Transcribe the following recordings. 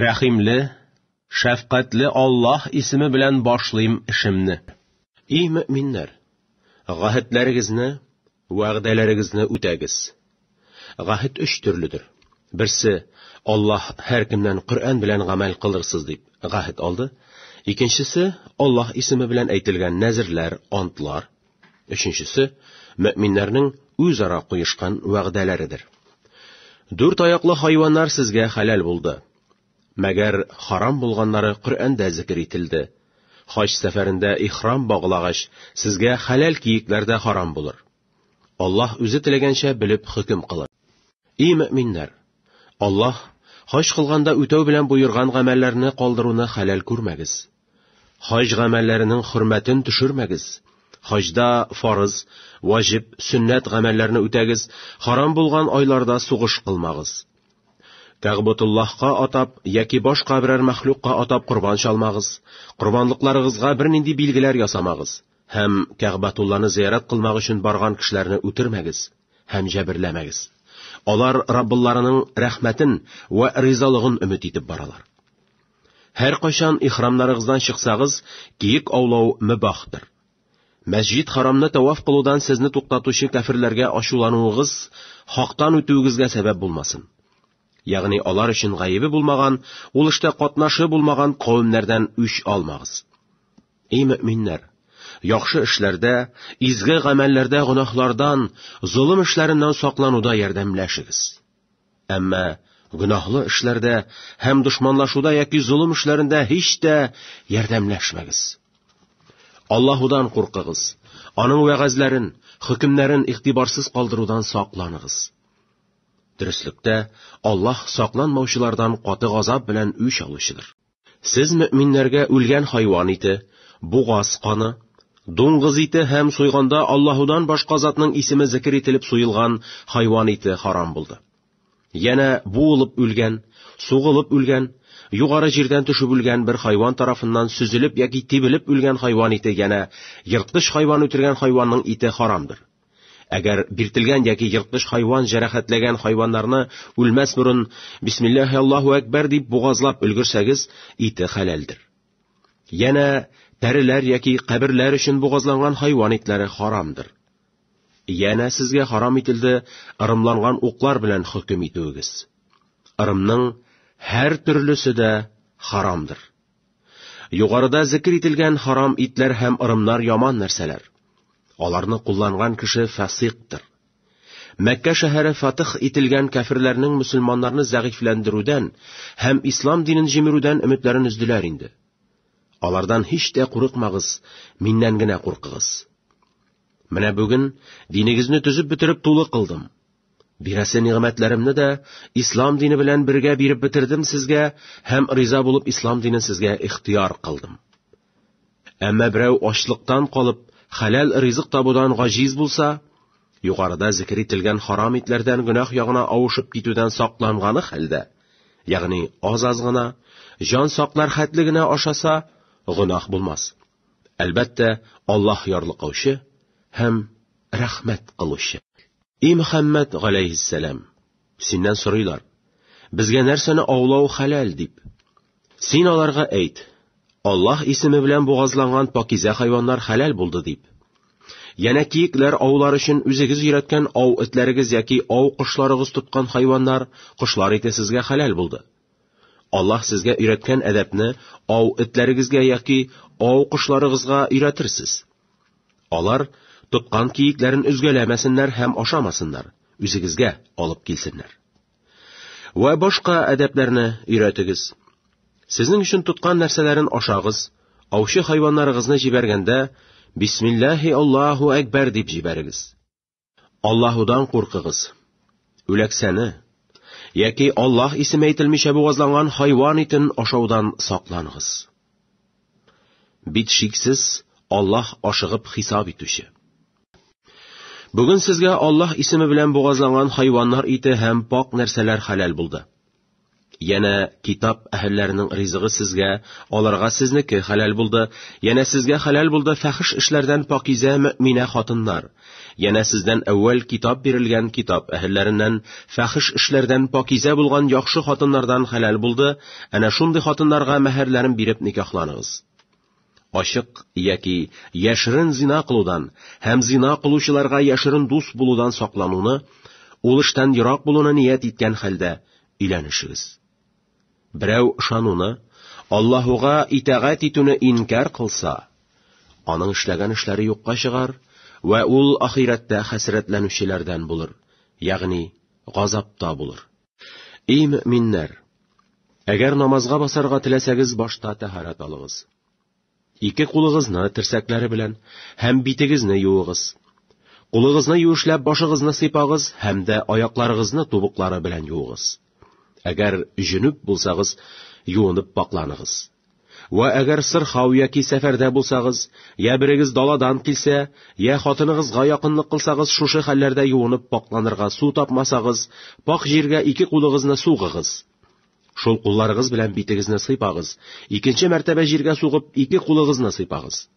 Рәхимле, шәфкатьле Аллаһ исеме белән башлыйм эшемне. И мөминнәр, гәһетләрегезне, вәгъдәләрегезне үтәгез. Гәһет өч төрледер. Берсе, Аллаһ һәр кемнән Коръән белән гамәл кылырсыз дип гәһет алды. Икенчесе, Аллаһ исеме белән әйтелгән нәзерләр, антлар. Өченчесе, мөминнәрнең үзара куешкан вәгъдәләредер. Дүрт аяклы хайваннар сезгә хәләл булды. Мәгәр харам булганнары Коръәндә зикер ителде. Хаҗ сәфәрендә ихрам баглагач, сезгә хәләл киекләр дә харам булыр. Аллаһ үзе теләгәнчә белеп хөкем кылыр. И мөминнәр, Аллаһ хаҗ кылганда үтәү белән боерган гамәлләрне калдыруны хәләл күрмәгез. Хаҗ гамәлләренең хөрмәтен төшермәгез. Хаҗда фарыз, ваҗиб, сөннәт гамәлләрне үтәгез, харам булган айларда сугыш кылмагыз. Кәгъбәтуллаһка атап яки башка берәр мәхлукка атап корбан чалмагыз, корбанлыкларыгызга бернинди билгеләр ясамагыз һәм Кәгъбәтулланы зыярат кылмак өчен барган кешеләрне үтермәгез һәм җәберләмәгез. Алар Раббылларының рәхмәтен вә ризалыгын өмет итеп баралар. Һәркайчан ихрамнарыгыздан чыксагыз, киек аулау мөбахтыр. Мәсҗид Харамны таваф кылудан сезне туктатучы кафирләргә ачулануыгыз, хактан үтүегезгә сәбәп булмасын. Ягъни алар өчен гаебе булмаган, ул эштә катнашы булмаган кавемнәрдән үч алмагыз. Эй мөминнәр, яхшы эшләрдә, изге гамәлләрдә гөнаһлардан, золым эшләреннән саклануда ярдәмләшегез. Әмма гөнаһлы эшләрдә һәм дошманлашуда яки золым эшләрендә һич тә ярдәмләшмәгез. Аллаһудан куркыгыз, аның вәгазьләрен, хөкемнәрен игътибарсыз калдырудан сакланыгыз. Дөреслектә, Аллаһ сакланмаучылардан каты газап белән үч алучыдыр. Сез мөэминнәргә үлгән хайван ите, бугаз каны, дуңгыз ите һәм суйганда Аллаһудан башка затның исеме зикер ителеп суелган хайван ите харам булды. Янә буылып үлгән, сугылып үлгән, югары җирдән төшеп үлгән бер хайван тарафыннан сөзелеп яки тибелеп үлгән хайван ите янә ерткыч хайван үтергән хайванның ите харамдыр. Әгәр биртелгән яки ерткыч хайван җәрәхәтләгән хайваннарны үлмәс борын бисмиллаһи Аллаһу әкбәр дип бугазлап өлгерсәгез, ите хәләлдер. Янә тәреләр яки каберләр өчен бугазланган хайван итләре харамдыр. Янә сезгә харам ителде ырымланган уклар белән хөкем итүегез. Ырымның һәр төрлесе дә харамдыр. Югарыда зикер ителгән харам итләр һәм ырымнар яман нәрсәләр. Аларны кулланган кеше фасиктыр. Мәккә шәһәре фатих ителгән кәфирләрнең мөселманнарны зәгыйфьләндерүдән һәм ислам динен җимерүдән өметләрен өздиләр инде. Алардан һич тә курыкмагыз, миннән генә куркыгыз. Менә бүген динегезне төзеп бетереп тулы кылдым. Бирәсе нигъмәтләремне дә ислам дине белән бергә биреп бетердем сезгә һәм риза булып ислам динен сезгә ихтыяр кылдым. Әмма берәү ачлыктан калып, хәләл ризык табудан гаҗиз булса, югарыда зикр ителгән харам итләрдән гөнаһ ягына авышып китүдән сакланганы хәлдә, ягъни аз-аз гына, җан саклар хәтле генә ашаса, гөнаһ булмас. Әлбәттә, Аллаһ ярлыкаучы һәм рәхмәт кылучы. И Мөхәммәд галәйһиссәлам, синнән сорыйлар, безгә нәрсәне аулау хәләл дип. Син аларга әйт, Аллаһ исеме белән бугазланган пакизә хайваннар хәләл булды дип. Янә киекләр аулар өчен үзегез өйрәткән ау этләрегез яки ау кошларыгыз тоткан хайваннар, кошлар ите сезгә хәләл булды. Аллаһ сезгә өйрәткән әдәпне ау этләрегезгә яки ау кошларыгызга өйрәтерсез. Алар тоткан киекләрен өзгәләмәсеннәр һәм ашамасыннар, үзегезгә алып килсеннәр. Вә башка әдәпләрне өйрәтегез. Сезнең өчен тоткан нәрсәләрен ашагыз, аучы хайваннарыгызны җибәргәндә, бисмиллаһи Аллаһу әкбәр дип җибәрегез. Аллаһудан куркыгыз. Үләксәне, яки Аллаһ исеме әйтелмичә бугазланган хайван итен ашаудан сакланыгыз. Бит шиксез, Аллаһ ашыгып хисап итүче. Бүген сезгә Аллаһ исеме белән бугазланган хайваннар ите һәм пак нәрсәләр хәләл булды. Яна китап әһелләренең ризыгы сезгә, аларга сезнеке хәләл булды, яна сезгә хәләл булды фәхиш эшләрдән пакизә мөминә хатыннар. Яна сездән әүвәл китап бирелгән китап әһелләреннән фәхиш эшләрдән пакизә булган яхшы хатыннардан хәләл булды, әнә шундый хатыннарга мәһәрләрен биреп никахланыгыз. Ачык яки яшерен зина кылудан һәм зина кылучыларга яшерен дус булудан саклануны, ул эштән ерак булуны ният иткән хәлдә өйләнешегез. Берәү ышануны, Аллаһуга итагать итүне инкар кылса, аның эшләгән эшләре юкка чыгар вә ул ахирәттә хәсрәтләнүчеләрдән булыр, ягъни газапта булыр. Эй мөминнәр! Әгәр намазга басарга теләсәгез, башта тәһарәт алыгыз. Ике кулыгызны терсәкләре белән һәм битегезне юыгыз. Кулыгызны юешләп башыгызны сыйпагыз һәм дә аякларыгызны тубыклары белән юыгыз. Әгәр җөнүп булсагыз, юынып пакланыгыз. Вә әгәр сырхау яки сәфәрдә булсагыз, я берегез даладан килсә, я хатыныгызга якынлык кылсагыз, шушы хәлләрдә юынып пакьланырга су тапмасагыз, пакь җиргә ике кулыгызны сугыгыз. Шул кулларыгыз белән битегезне сыйпагыз, икенче мәртәбә җиргә сугып, ике кулыгызны сыйпагыз.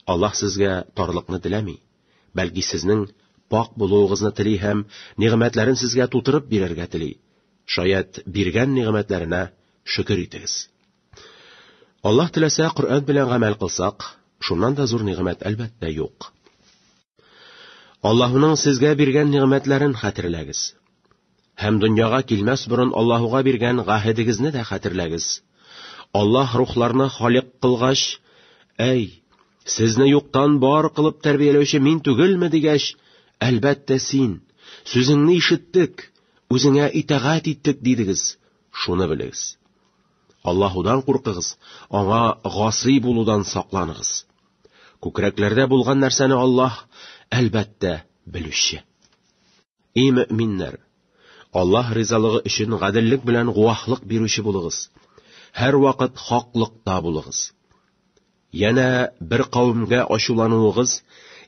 Аллаһ сезгә тарлыкны теләми, бәлки сезнең пакь булуыгызны тели һәм нигъмәтләрен сезгә тутырып бирергә тели, шаять, биргән нигъмәтләренә Шөкер итегез. Аллаһ теләсә, Коръән белән гамәл кылсак, шуннан да зур нигъмәт әлбәттә юк. Аллаһуның сезгә биргән нигъмәтләрен хәтерләгез. Һәм дөньяга килмәс борын Аллаһуга биргән гаһедегезне дә хәтерләгез. Аллаһ рухларны халик кылгач, әй, сезне юктан бар кылып тәрбияләүче мин түгелме дигәч, әлбәттә син, сүзеңне ишеттек, үзеңә итагать иттек дидегез. Шуны белегез. Аллаһудан куркыгыз, аңа гасый булудан сакланыгыз. Күкрәкләрдә булган нәрсәне Аллаһ, әлбәттә, белүче. И мөэминнәр, Аллаһ ризалыгы өчен гаделлек белән гуаһлык бирүче булыгыз. Һәрвакыт хаклыкта булыгыз. Янә бер кавемгә ачулануыгыз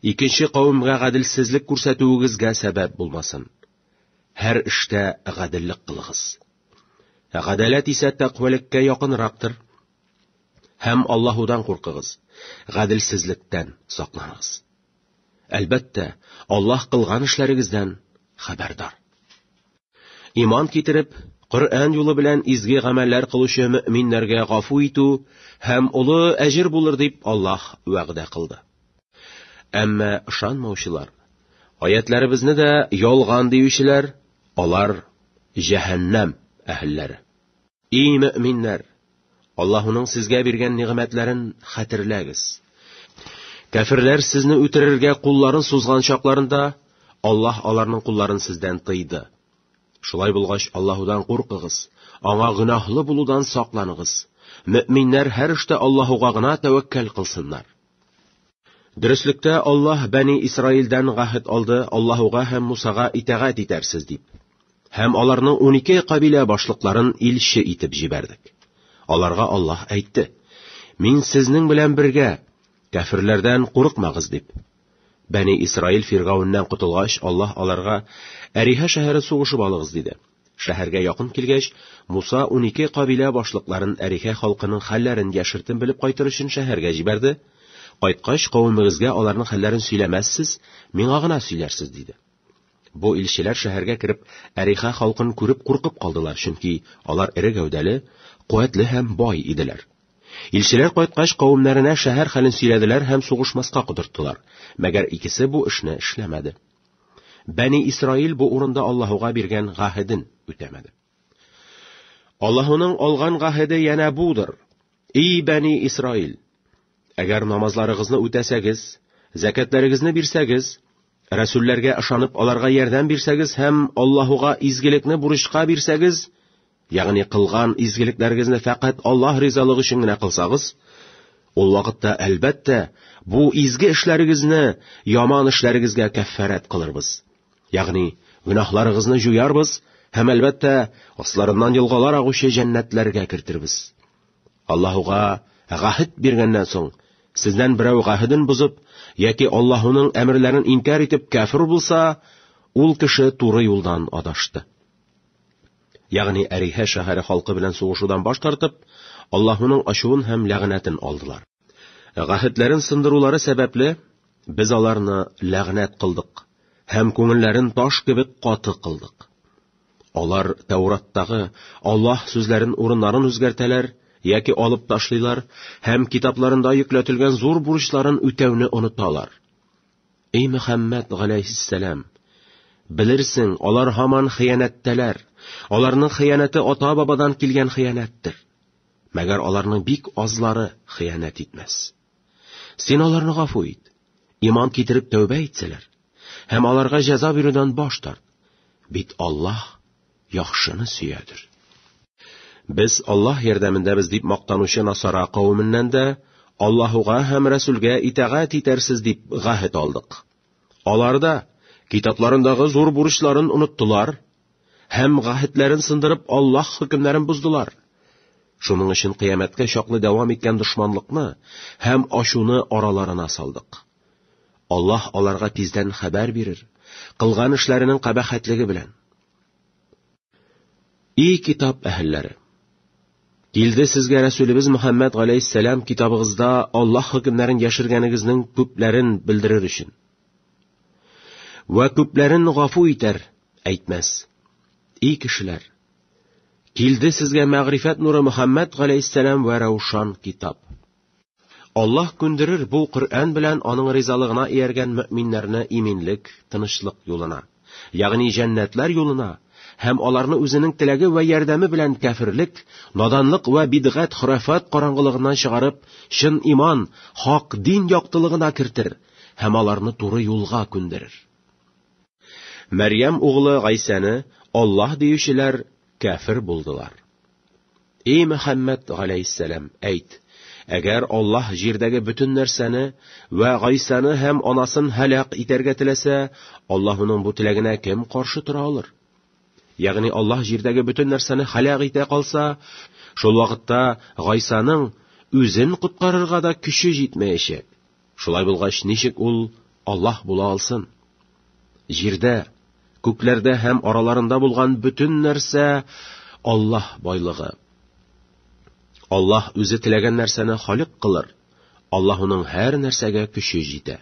икенче кавемгә гаделсезлек күрсәтүегезгә сәбәп булмасын. Һәр эштә гаделлек кылыгыз. Гадаләт исә тәкъвәлеккә якынрактыр. Һәм Аллаһудан куркыгыз, гаделсезлектән сакланыгыз. Әлбәттә, Аллаһ кылган эшләрегездән хәбәрдар. Иман китереп, Коръән юлы белән изге гамәлләр кылучы мөэминнәргә гафу итү һәм олы әҗер булыр дип Аллаһ вәгъдә кылды. Әмма ышанмаучылар, аятләребезне дә ялган диючеләр, алар җәһәннәм әһелләре. И мөэминнәр, Аллаһуның сезгә биргән нигъмәтләрен хәтерләгез. Кәфирләр сезне үтерергә кулларын сузган чакларында Аллаһ аларның кулларын сездән тыйды. Шулай булгач, Аллаһудан куркыгыз, аңа гөнаһлы булудан сакланыгыз. Мөэминнәр һәр эштә Аллаһуга гына тәвәккәл кылсыннар. Дөреслектә Аллаһ Бәни Исраилдән гәһет алды, Аллаһуга һәм Мусага итәгать итәрсез дип. Һәм аларның 12 кабилә башлыкларын илче итеп җибәрдек. Аларга Аллаһ әйтте: Мин сезнең белән бергә, кәфирләрдән курыкмагыз дип. Бәни Исраил Фиргауннан котылгач, Аллаһ аларга: Әриһә шәһәре сугышып алыгыз диде. Шәһәргә якын килгәч, Муса унике кабилә башлыкларын Әрихә халкының хәлләрен яшертен белеп кайтыр өчен шәһәргә җибәрде, Кайткач, кавемегезгә аларның хәлләрен сөйләмәссез, миңа гына сөйләрсез, диде. Бу илчеләр шәһәргә кереп, Әрихә халкын күреп куркып калдылар, чөнки алар эре гәүдәле, куәтле һәм бай иделәр. Илчеләр кайткач, кавемнәренә шәһәр хәлен сөйләделәр һәм сугышмаска котырттылар, мәгәр икесе бу эшне эшләмәде. Бәни Исраил бу урында Аллаһуга биргән гаһеден үтәмәде. Аллаһуның алган гаһеде янә будыр. И Бәни Исраил! Әгәр намазларыгызны үтәсәгез, зәкәтләрегезне бирсәгез, рәсүлләргә ышанып аларга ярдәм бирсәгез һәм Аллаһуга изгелекне бурычка бирсәгез, Ягъни кылган изгелекләрегезне фәкать Аллаһ ризалыгы өчен генә кылсагыз, ул вакытта, әлбәттә, бу изге эшләрегезне яман эшләрегезгә кәффарәт кылырбыз. Ягъни гөнаһларыгызны җуярбыз һәм әлбәттә, асларыннан елгалар агучы җәннәтләргә кертирбез. Аллаһуга гәһит биргәннән соң, сездән берәү гәһиден бозып яки Аллаһуның әмерләрен инкар итеп кәфир булса, ул кеше туры юлдан адашты. ягъни Әрихә шәһәре халкы белән сугышудан баш тартып, Аллаһуның ачуын һәм ләгънәтен алдылар. Гәһетләрен сындырулары сәбәпле, без аларны ләгънәт кылдык һәм күңелләрен таш кебек каты кылдык. Алар Тәураттагы Аллаһ сүзләрен урыннарын үзгәртәләр яки алып ташлыйлар һәм китапларында йөкләтелгән зур бурычларын үтәүне оныталар. Эй Мөхәммәд галәйһиссәлам, белерсең, алар һаман хыянәттәләр. Аларның хыянәте ата-бабадан килгән хыянәттер. Мәгәр аларның бик азлары хыянәт итмәс. Син аларны гафу ит. Иман китереп тәүбә итсәләр, һәм аларга җәза бирүдән баш тарт. Бит Аллаһ яхшыны сөядер. Без Аллаһ ярдәмендәбез дип мактанучы насара кавеменнән дә Аллаһуга һәм Рәсүлгә итагать итәрсез дип гәһет алдык. Аларда китапларындагы зур бурычларын оныттылар һәм гәһетләрен сындырып Аллаһ хөкемнәрен буздылар. Шуның өчен кыямәткә чаклы дәвам иткән дошманлыкны һәм ачуны араларына салдык. Аллаһ аларга тиздән хәбәр бирер, кылган эшләренең кабахәтлеге белән. И китап әһелләре! Килде сезгә Рәсүлебез Мөхәммәд галәйһиссәлам китабыгызда Аллаһ хөкемнәрен яшергәнегезнең күпләрен белдерер өчен. Вә күпләрен гафу итәр, әйтмәс. И кешеләр! Килде сезгә мәгърифәт нуры Мөхәммәд галәйһиссәлам вә раушан китап. Аллаһ күндерер бу Коръән белән аның ризалыгына ияргән мөэминнәрне иминлек, тынычлык юлына, ягъни җәннәтләр юлына, һәм аларны үзенең теләге вә ярдәме белән кәферлек, наданлык вә бидгать, хөрәфат караңгылыгыннан чыгарып, чын иман, хак дин яктылыгына кертер һәм аларны туры юлга күндерер. Мәрьям углы Гайсәне Аллаһ диючеләр кәфер булдылар. Эй Мөхәммәд галәйһиссәлам, әйт, әгәр Аллаһ җирдәге бөтен нәрсәне вә Гайсаны һәм анасын һәлак итәргә теләсә, Аллаһуның бу теләгенә кем каршы тора алыр? Ягъни Аллаһ җирдәге бөтен нәрсәне һәлак итә калса, шул вакытта Гайсаның үзен коткарырга да көче җитмәячәк. Шулай булгач, ничек ул Аллаһ була алсын? Җирдә, күкләрдә һәм араларында булган бөтен нәрсә Аллаһ байлыгы. Аллаһ үзе теләгән нәрсәне халык кылыр. Аллаһ уның һәр нәрсәгә көче җитә.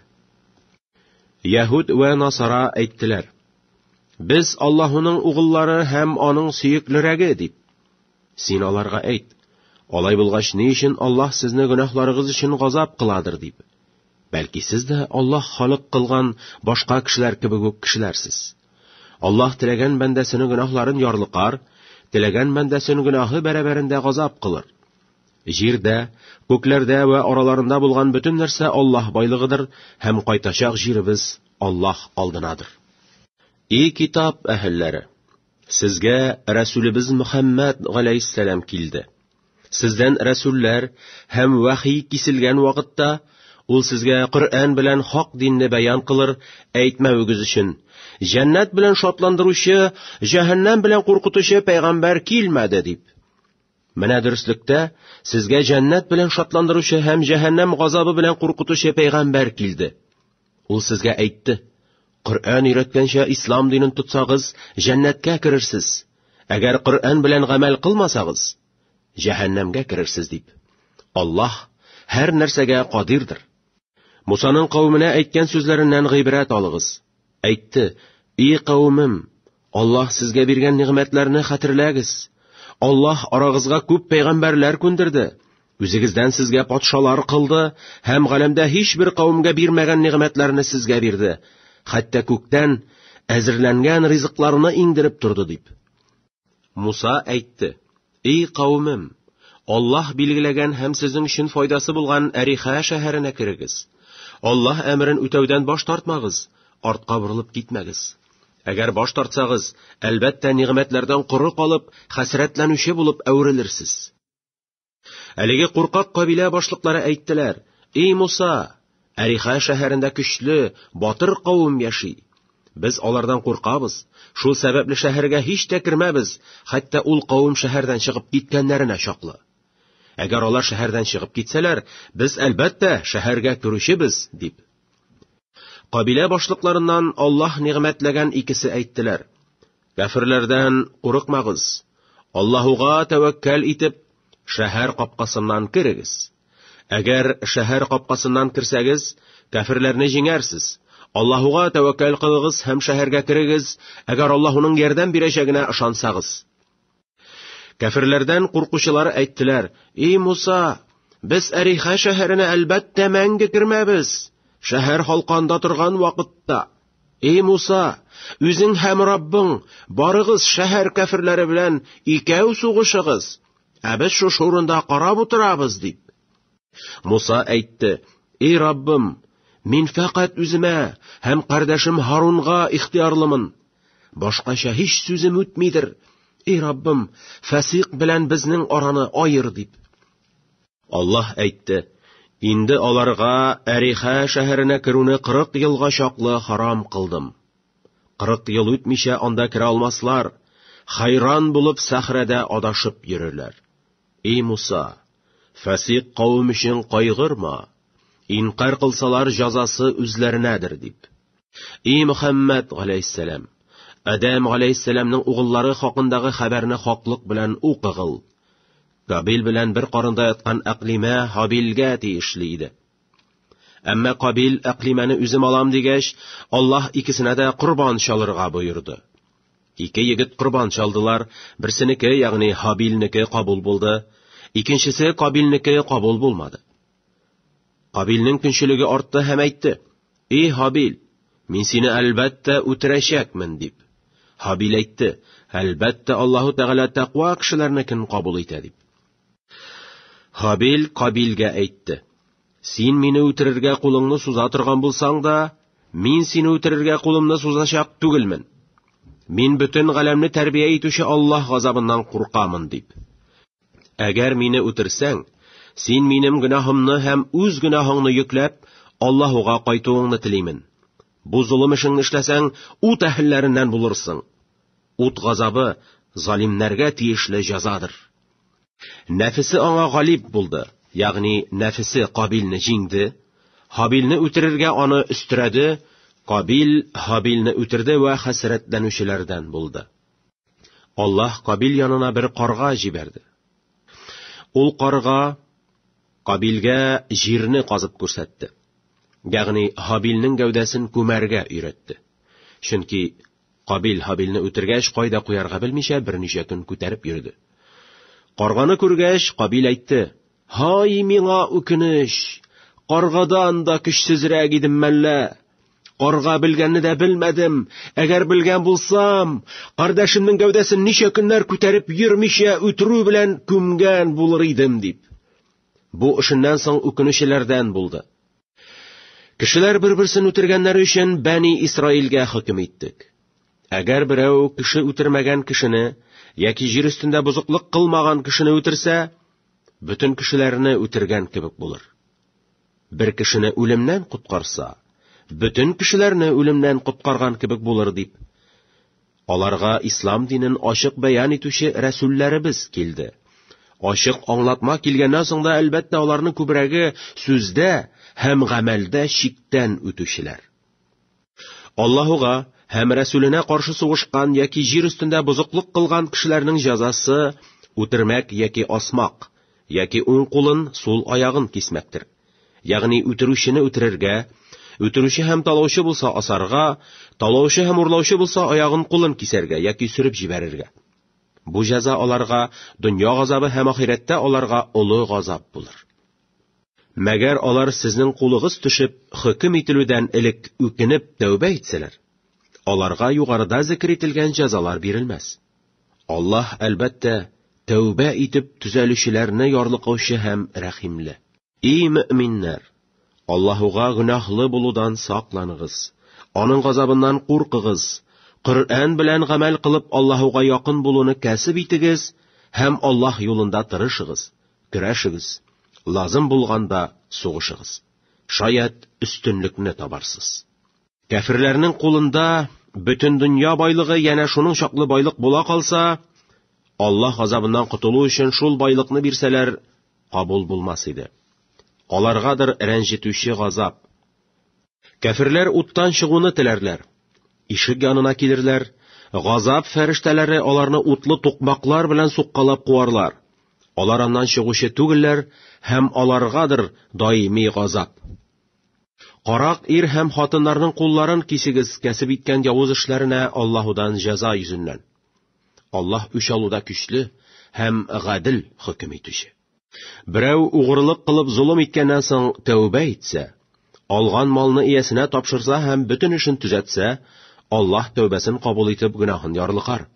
Яһуд вә Насара әйттеләр: Без Аллаһуның угыллары һәм аның сөеклерәге дип. Син аларга әйт, Алай булгач, ни өчен Аллаһ сезне гөнаһларыгыз өчен газап кыладыр дип. Бәлки сез дә Аллаһ халык кылган башка кешеләр кебек үк кешеләрсез. Аллаһ теләгән бәндәсенең гөнаһларын ярлыкар, теләгән бәндәсен гөнаһы бәрабәрендә газап кылыр. Җирдә, күкләрдә вә араларында булган бөтен нәрсә Аллаһ байлыгыдыр һәм кайтачак җиребез Аллаһ алдынадыр. И китап әһелләре! Сезгә Рәсүлебез Мөхәммәд галәйһиссәлам килде. Сездән рәсүлләр һәм вахи киселгән вакытта ул сезгә Коръән белән хак динне бәян кылыр, әйтмәвегез өчен, җәннәт белән шатландыручы, җәһәннәм белән куркытучы пәйгамбәр килмәде дип. Менә дөреслектә сезгә җәннәт белән шатландыручы һәм җәһәннәм газабы белән куркытучы пәйгамбәр килде. Ул сезгә әйтте, Коръән өйрәткәнчә ислам динен тотсагыз, җәннәткә керерсез. Әгәр Коръән белән гамәл кылмасагыз, җәһәннәмгә керерсез дип. Аллаһ һәр нәрсәгә кадирдер. Мусаның кавеменә әйткән сүзләреннән гыйбрәт алыгыз. Әйтте, И кавемем, Аллаһ сезгә биргән нигъмәтләрне хәтерләгез. Аллаһ арагызга күп пәйгамбәрләр күндерде. Үзегездән сезгә патшалар кылды һәм галәмдә һичбер кавемгә бирмәгән нигъмәтләрне сезгә бирде. Хәтта күктән әзерләнгән ризыкларны иңдереп торды дип. Муса әйтте: Эй кавемем, Аллаһ билгеләгән һәм сезнең өчен файдасы булган Әриха шәһәренә керегез. Аллаһ әмерен үтәүдән баш тартмагыз, артка борылып китмәгез. Әгәр баш тартсагыз, әлбәттә, нигъмәтләрдән коры калып, хәсрәтләнүче булып әверелерсез. Әлеге куркак кабилә башлыклары әйттеләр: "Эй Муса, Әриха шәһәрендә көчле, батыр кавым яши. Без алардан куркабыз, шул сәбәпле шәһәргә һич тә кермәбез, хәтта ул кавым шәһәрдән чыгып киткәннәренә чаклы. Әгәр алар шәһәрдән чыгып китсәләр, без, әлбәттә, шәһәргә керүчебез, дип. Кабилә башлыкларыннан Аллаһ нигъмәтләгән икесе әйттеләр. Кәферләрдән курыкмагыз. Аллаһуга тәвәккәл итеп, шәһәр капкасыннан керегез. Әгәр шәһәр капкасыннан керсәгез, кәферләрне җиңәрсез. Аллаһуга тәвәккәл кылыгыз һәм шәһәргә керегез, әгәр Аллаһуның ярдәм бирәчәгенә ышансагыз. Кәферләрдән куркучылар әйттеләр: "И Муса, без Әриха шәһәренә әлбәттә мәңге кермәбез. Шәһәр халканда торган вакытта, "И Муса, үзең һәм Раббың, барыгыз шәһәр кәферләре белән икәү сугышыгыз. Ә без шушы урында карап утырабыз, дип. Муса әйтте, Эй Раббым, мин фәкать үземә һәм кардәшем Һарунга ихтиярлымын. Башкача һич сүзем үтмидер. Эй Раббым, фәсыйк белән безнең араны аер, дип. Аллаһ әйтте, Инде аларга Әриха шәһәренә керүне 40 елга чаклы харам кылдым. 40 ел үтмичә анда керә алмаслар, хайран булып сәхрәдә адашып йөрерләр. И Муса, фасик кавым өчен кайгырма, инкар кылсалар җазасы үзләренәдер дип. И Мөхәммәд галәйһиссәлам, Адәм галәйһиссәламның угыллары хакындагы хәбәрне хаклык белән укыгыл. Кабил белән бер карында яткан Әклимә Һабилгә тиешле иде. Әмма Кабил әклимәне үзем алам дигәч, Аллаһ икесенә дә корбан чалырга боерды. Ике егет корбан чалдылар, берсенеке, ягъни Хабилнеке кабул булды, икенчесе Кабилнеке кабул булмады. Кабилнең көнчелеге артты һәм әйтте: "И Хабил, мин сине әлбәттә үтерәчәкмен", дип. Хабил әйтте: "Әлбәттә Аллаһу Тәгалә тәкъва кешеләрнекен кабул итә", дип. Хабил Кабилгә әйтте. Син мине үтерергә кулыңны суза торган булсаң да, мин сине үтерергә кулымны сузачак түгелмен. Мин бөтен галәмне тәрбия итүче Аллаһ газабыннан куркамын дип. Әгәр мине үтерсәң, син минем гөнаһымны һәм үз гөнаһыңны йөкләп, Аллаһуга кайтуыңны телимен. Бу золым эшеңне эшләсәң, ут әһелләреннән булырсың. Ут газабы залимнәргә тиешле җәзадыр. Нәфесе аңа галиб булды, ягъни нәфесе Кабилне җиңде, Һабилне үтерергә аны өстерәде, Кабил Һабилне үтерде вә хәсрәтләнүчеләрдән булды. Аллаһ Кабил янына бер карга җибәрде. Ул карга Кабилгә җирне казып күрсәтте. Ягъни Һабилнең гәүдәсен күмәргә өйрәтте. Чөнки Кабил Һабилне үтергәч, кайда куярга белмичә, берничә көн күтәреп йөрде. Карганы күргәч, Кабил әйтте, Һай, миңа үкенеч! Каргадан да көчсезрәк идем мәллә! Карга белгәнне дә белмәдем, әгәр белгән булсам, кардәшемнең гәүдәсен ничә көннәр күтәреп йөрмичә үтерү белән күмгән булыр идем, дип. Бу эшеннән соң үкенүчеләрдән булды. Кешеләр бер-берсен үтергәннәре өчен Бәни Исраилгә хөкем иттек. Әгәр берәү кеше үтермәгән кешене яки җир өстендә бозыклык кылмаган кешене үтерсә, бөтен кешеләрне үтергән кебек булыр. Бер кешене үлемнән коткарса, бөтен кешеләрне үлемнән коткарган кебек булыр дип Аларга ислам динен ачык бәян итүче рәсүлләребез килде. Ачык аңлатма килгәннән соң да, әлбәттә, аларның күбрәге сүздә һәм гамәлдә чиктән үтүчеләр. Аллаһуга һәм рәсүленә каршы сугышкан яки җир өстендә бозыклык кылган кешеләрнең җәзасы үтермәк яки асмак, яки уң кулын, сул аягын кисмәктер. Ягъни үтерүчене үтерергә, үтерүче һәм талаучы булса асарга, талаучы һәм урлаучы булса аягын кулын кисәргә яки сөреп җибәрергә. Бу җәза аларга дөнья газабы һәм ахирәттә аларга олы газап булыр. Мәгәр алар сезнең кулыгыз төшеп, хөкем ителүдән элек үкенеп тәүбә итсәләр, аларга югарыда зикер ителгән җәзалар бирелмәс. Аллаһ, әлбәттә, тәүбә итеп төзәлүчеләрне ярлыкаучы һәм рәхимле. И мөэминнәр, Аллаһуга гөнаһлы булудан сакланыгыз, аның газабыннан куркыгыз, Коръән белән гамәл кылып Аллаһуга якын булуны кәсеп итегез һәм Аллаһ юлында тырышыгыз, көрәшегез, лазым булганда сугышыгыз. Шаят өстенлекне табарсыз. Кәферләрнең кулында бөтен дөнья байлыгы янә шуның чаклы байлык була калса, Аллаһ азабыннан котылу өчен шул байлыкны бирсәләр, кабул булмас иде. Аларгадыр рәнҗетүче газап. Кәферләр уттан чыгуны теләрләр. Ишек янына килерләр, газап фәрештәләре аларны утлы тукмаклар белән суккалап куарлар. Алар аннан чыгучы түгелләр һәм аларгадыр даими газап. Карак ир һәм хатыннарның кулларын кисегез кәсеп иткән явыз эшләренә Аллаһудан җәза йөзеннән. Аллаһ үч алуда көчле һәм гадел хөкем итүче. Берәү угрылык кылып золым иткәннән соң тәүбә итсә, алган малны иясенә тапшырса һәм бөтен эшен төзәтсә, Аллаһ тәүбәсен кабул итеп гөнаһын ярлыкар.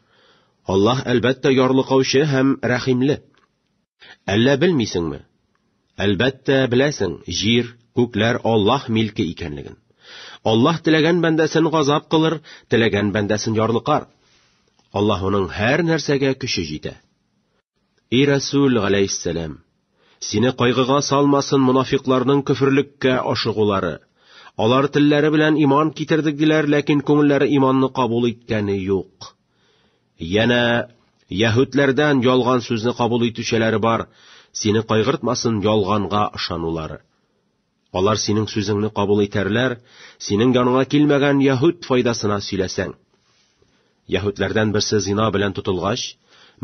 Аллаһ әлбәттә ярлыкаучы һәм рәхимле. Әллә белмисеңме? Әлбәттә, беләсең, җир, күкләр Аллаһ милке икәнлеген. Аллаһ теләгән бәндәсен газап кылыр, теләгән бәндәсен ярлыкар. Аллаһуның һәр нәрсәгә көче җитә. И Расул галәйһиссәлам, сине кайгыга салмасын монафикларның көферлеккә ашыгулары. Алар телләре белән иман китердек диләр, ләкин күңелләре иманны кабул иткәне юк. Янә яһүдләрдән ялган сүзне кабул итүчеләре бар, сине кайгыртмасын ялганга ышанулары. Алар синең сүзеңне кабул итәрләр, синең яныңа килмәгән яһүд файдасына сөйләсәң. Яһүдләрдән берсе зина белән тотылгач,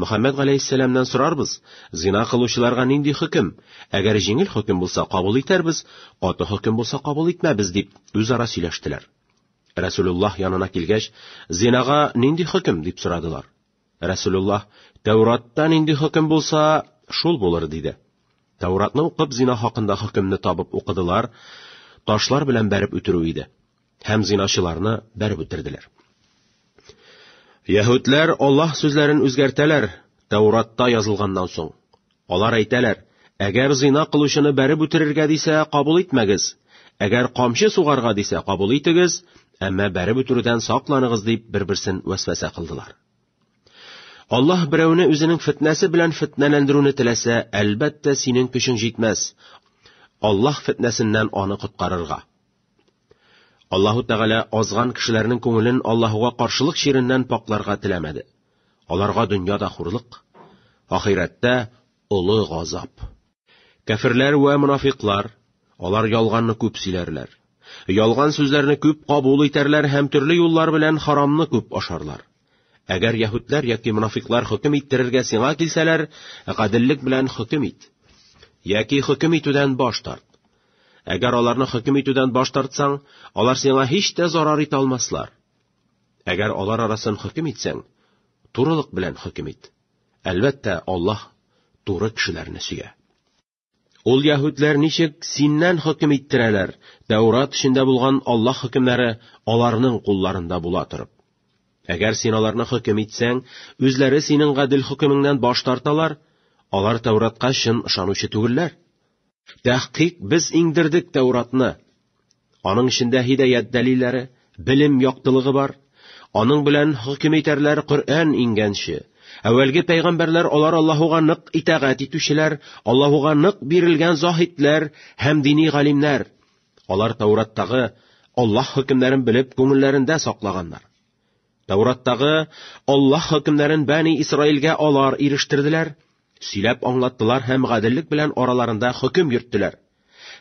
Мөхәммәд галәйһиссәламнән сорарбыз, зина кылучыларга нинди хөкем? Әгәр җиңел хөкем булса, кабул итәрбез, каты хөкем булса, кабул итмәбез, дип үзара сөйләштеләр. Расулуллаһ янына килгәч, зинага нинди хөкем дип сорадылар. Расулуллаһ, Тәуратта нинди хөкем булса, шул булыр диде. Тәуратны укып зина хакында хөкемне табып укыдылар, ташлар белән бәреп үтерү иде. Һәм зиначыларны бәреп үтерделәр. Яһүдләр Аллаһ сүзләрен үзгәртәләр, Тәуратта язылганнан соң. Алар әйтәләр, Әгәр зина кылучыны бәреп үтерергә дисә, кабул итмәгез. Әгәр камчы сугарга дисә, кабул итегез, әмма бәреп үтерүдән сакланыгыз дип бер-берсен вәсвәсә кылдылар. Аллаһ берәүне үзенең фетнәсе белән фетнәләндерүне теләсә, әлбәттә, синең көчең җитмәс. Аллаһ фетнәсеннән аны коткарырга. Аллаһу Тәгалә азган кешеләрнең күңелен Аллаһуга каршылык чиреннән пакларга теләмәде. Аларга дөньяда хурлык, ахирәттә олы газап. Кәферләр вә мунафикълар, алар ялганны күп сөйләрләр. Ялган сүзләрне күп кабул итәрләр һәм төрле юллар белән харамны күп ашарлар. Әгәр яһүдләр яки мунафикълар хөкем иттерергә сиңа килсәләр, гаделлек белән хөкем ит. Яки хөкем итүдән баш тарт. Әгәр аларны хөкем итүдән баш тартсаң, алар сиңа һич тә зарар итә алмаслар. Әгәр алар арасын хөкем итсәң, турылык белән хөкем ит. Әлбәттә, Аллаһ туры кешеләрне сөя. Ул яһүдләр ничек синнән хөкем иттерәләр, Тәурат эчендә булган Аллаһ хөкемнәре аларның кулларында була торып. Әгәр син аларны хөкем итсәң, үзләре синең гадел хөкемеңнән баш тарталар, алар Тәуратка чын ышанучы түгелләр. Тәхкыйк без иңдердек Тәуратны. Аның эчендә һидаят дәлилләре, белем яктылыгы бар. Аның белән хөкем итәрләр Коръән иңгәнче. Әүвәлге пәйгамбәрләр алар Аллаһуга нык итагать итүчеләр, Аллаһуга нык бирелгән заһидләр һәм дини галимнәр. Алар Таураттагы Аллаһ хөкемнәрен белеп күңелләрендә саклаганнар. Таураттагы Аллаһ хөкемнәрен Бәни Исраилгә алар ирештерделәр, Сөйләп аңлаттылар һәм гаделлек белән араларында хөкем йөрттеләр.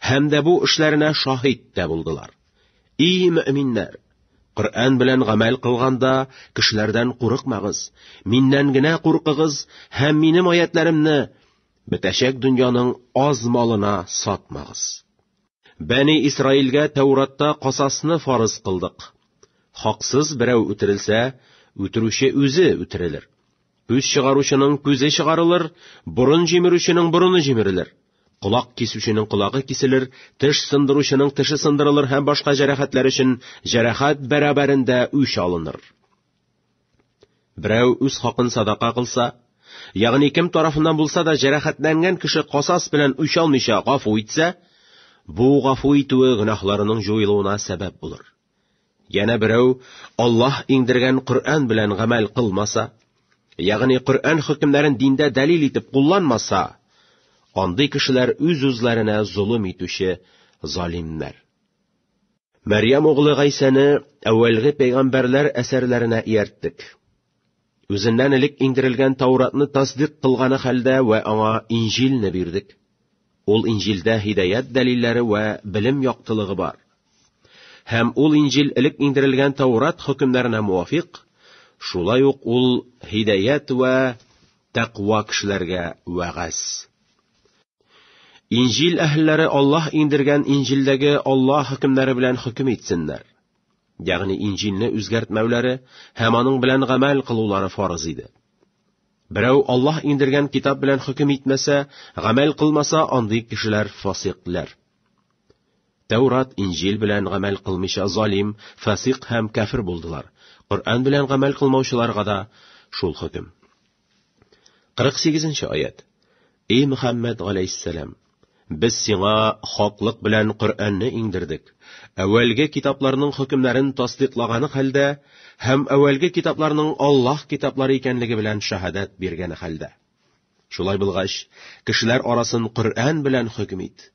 Һәм дә бу эшләренә шаһит тә булдылар. И мөэминнәр! Коръән белән гамәл кылганда, кешеләрдән курыкмагыз, миннән генә куркыгыз һәм минем аятләремне бетәчәк дөньяның аз малына сатмагыз. Бәни Исраилгә Тәуратта касасны фарыз кылдык. Хаксыз берәү үтерелсә, үтерүче үзе үтерелер. Үз чыгаручының күзе чыгарылыр, борын җимерүченең борыны җимерелер. Колак кисүченең колагы киселер, теш сындыручының теше сындырылыр һәм башка җәрәхәтләр өчен җәрәхәт бәрабәрендә үч алыныр. Берәү үз хакын садака кылса, ягъни кем тарафыннан булса да җәрәхәтләнгән кеше касас белән үч алмыйча гафу итсә, бу гафу итүе гөнаһларының җуелуына сәбәп булыр. Яна берәү Аллаһ иңдергән Коръән белән гамәл кылмаса, ягъни Коръән хөкемнәрен диндә дәлил итеп кулланмаса, андый кешеләр үз-үзләренә золым итүче залимнәр. Мәрьям углы Гайсәне әүвәлге пәйгамбәрләр әсәрләренә иярттек. Үзеннән элек иңдерелгән Тауратны тасдыйк кылганы хәлдә вә аңа Инҗилне бирдек. Ул Инҗилдә һидәят дәлилләре вә белем яктылыгы бар. Һәм ул Инҗил элек иңдерелгән Таурат хөкемнәренә муафикъ, шулай ук ул һидәят вә тәкъва кешеләргә вәгазь. Инҗил әһелләре Аллаһ иңдергән Инҗилдәге Аллаһ хөкемнәре белән хөкем итсеннәр. ягъни инҗилне үзгәртмәүләре һәм аның белән гамәл кылулары фарыз иде. Берәү Аллаһ индергән китап белән хөкем итмәсә, гамәл кылмаса, андый кешеләр фасикләр. Тәурат, Инҗил белән гамәл кылмыйча залим, фасик һәм кафир булдылар. Коръән белән гамәл кылмаучыларга да шул хөкем. 48 нче аят. Эй Мөхәммәд галәйһиссәлам, без сиңа хаклык белән Коръәнне иңдердек. Әүвәлге китапларның хөкемнәрен тасдиклаганы хәлдә һәм әүвәлге китапларның Аллаһ китаплары икәнлеге белән шаһадәт биргәне хәлдә. Шулай булгач, кешеләр арасын Коръән белән хөкем ит.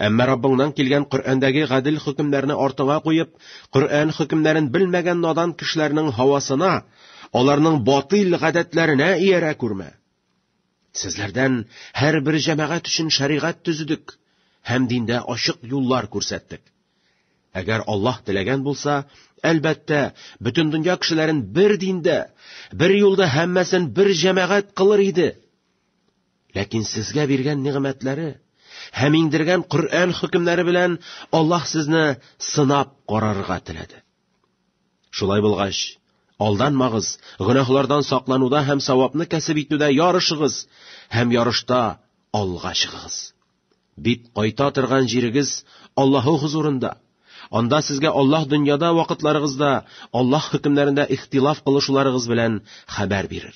Әмма Раббыңнан килгән Коръәндәге гадел хөкемнәрне артыңа куеп, Коръән хөкемнәрен белмәгән надан кешеләрнең һавасына, аларның батыл гадәтләренә иярә күрмә. Сезләрдән һәр бер җәмәгать өчен шәригать төзедек һәм диндә ачык юллар күрсәттек. Әгәр Аллаһ теләгән булса, әлбәттә, бөтен дөнья кешеләрен бер диндә, бер юлда һәммәсен бер җәмәгать кылыр иде. Ләкин сезгә биргән нигъмәтләре һәм иңдергән Коръән хөкемнәре белән Аллаһ сезне сынап карарга теләде. Шулай булгач, алданмагыз, гөнаһлардан саклануда һәм савапны кәсеп итүдә ярышыгыз һәм ярышта алга чыгыгыз. Бит кайта торган җирегез Аллаһы хузурында. Анда сезгә Аллаһ дөньяда вакытларыгызда Аллаһ хөкемнәрендә ихтилаф кылышуларыгыз белән хәбәр бирер.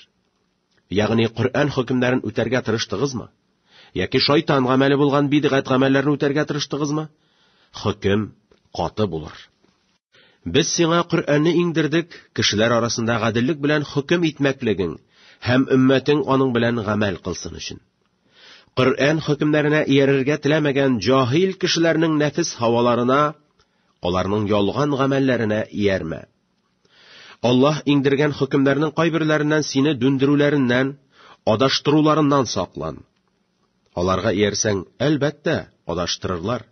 Ягъни Коръән хөкемнәрен үтәргә тырыштыгызмы? Яки шайтан гамәле булган бидгать гамәлләрне үтәргә тырыштыгызмы? Хөкем каты булыр. Без сиңа Коръәнне иңдердек, кешеләр арасында гаделлек белән хөкем итмәклегең һәм өммәтең аның белән гамәл кылсын өчен. Коръән хөкемнәренә иярергә теләмәгән җаһил кешеләрнең нәфес һаваларына, аларның ялган гамәлләренә иярмә. Аллаһ иңдергән хөкемнәрнең кайберләреннән сине дүндерүләреннән, адаштыруларыннан саклан. Аларга иярсәң, әлбәттә, адаштырырлар.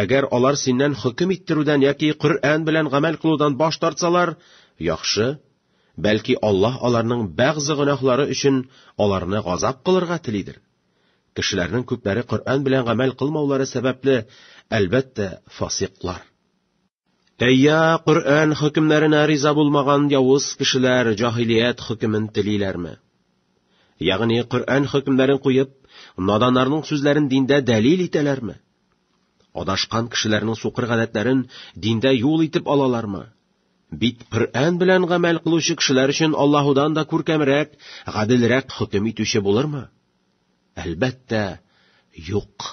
Әгәр алар синнән хөкем иттерүдән яки Коръән белән гамәл кылудан баш тартсалар, яхшы, бәлки Аллаһ аларның бәгъзе гөнаһлары өчен аларны газап кылырга телидер. Кешеләрнең күпләре Коръән белән гамәл кылмаулары сәбәпле, әлбәттә, фасиклар. Әйя, Коръән хөкемнәренә риза булмаган явыз кешеләр җаһилият хөкемен телиләрме? Ягъни Коръән хөкемнәрен куеп, наданнарның сүзләрен диндә дәлил итәләрме? Адашкан кешеләрнең сукыр гадәтләрен диндә юл итеп алалармы? Бит Коръән белән гамәл кылучы кешеләр өчен Аллаһудан да күркәмрәк, гаделрәк хөкем итүче булырмы? Әлбәттә, юк.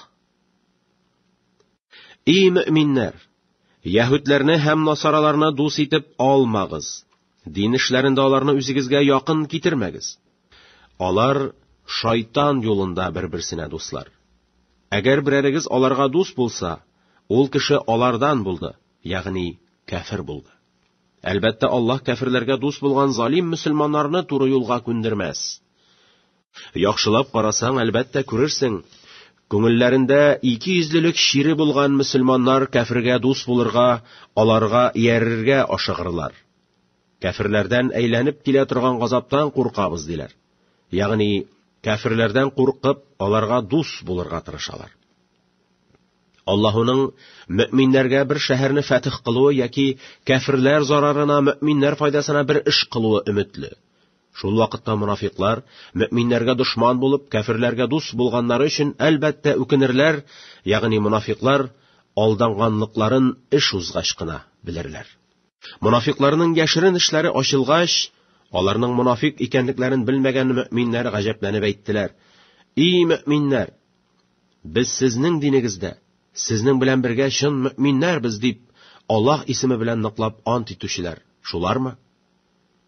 Ий мөминнәр! Яһүдләрне һәм насараларны дус итеп алмагыз. Дин эшләрендә аларны үзегезгә якын китермәгез. Алар шайтан юлында бер-берсенә дуслар. Әгәр берәрегез аларга дус булса, ул кеше алардан булды, ягъни кәфир булды. Әлбәттә, Аллаһ кәфирләргә дус булган залим мөселманнарны туры юлга күндермәс. Яхшылап карасаң, әлбәттә, күрерсең, күңелләрендә икейөзлелек чире булган мөселманнар кәфергә дус булырга, аларга иярергә ашыгырлар. Кәферләрдән әйләнеп килә торган газаптан куркабыз, диләр. Ягъни, кәферләрдән куркып, аларга дус булырга тырышалар. Аллаһуның мөэминнәргә бер шәһәрне фәтих кылуы яки кәферләр зарарына мөэминнәр файдасына бер эш кылуы өметле. Шул вакытта монафикълар, мөэминнәргә дошман булып, кәферләргә дус булганнары өчен, әлбәттә, үкенерләр, ягъни монафикълар алданганлыкларын эш узгач кына белерләр. Монафикъларның яшерен эшләре ачылгач, аларның монафик икәнлекләрен белмәгән мөэминнәр гаҗәпләнеп әйттеләр, И мөэминнәр! Без сезнең динегездә, сезнең белән бергә чын мөэминнәрбез, дип, Аллаһ исеме белән ныклап ант итүчеләр, шулармы?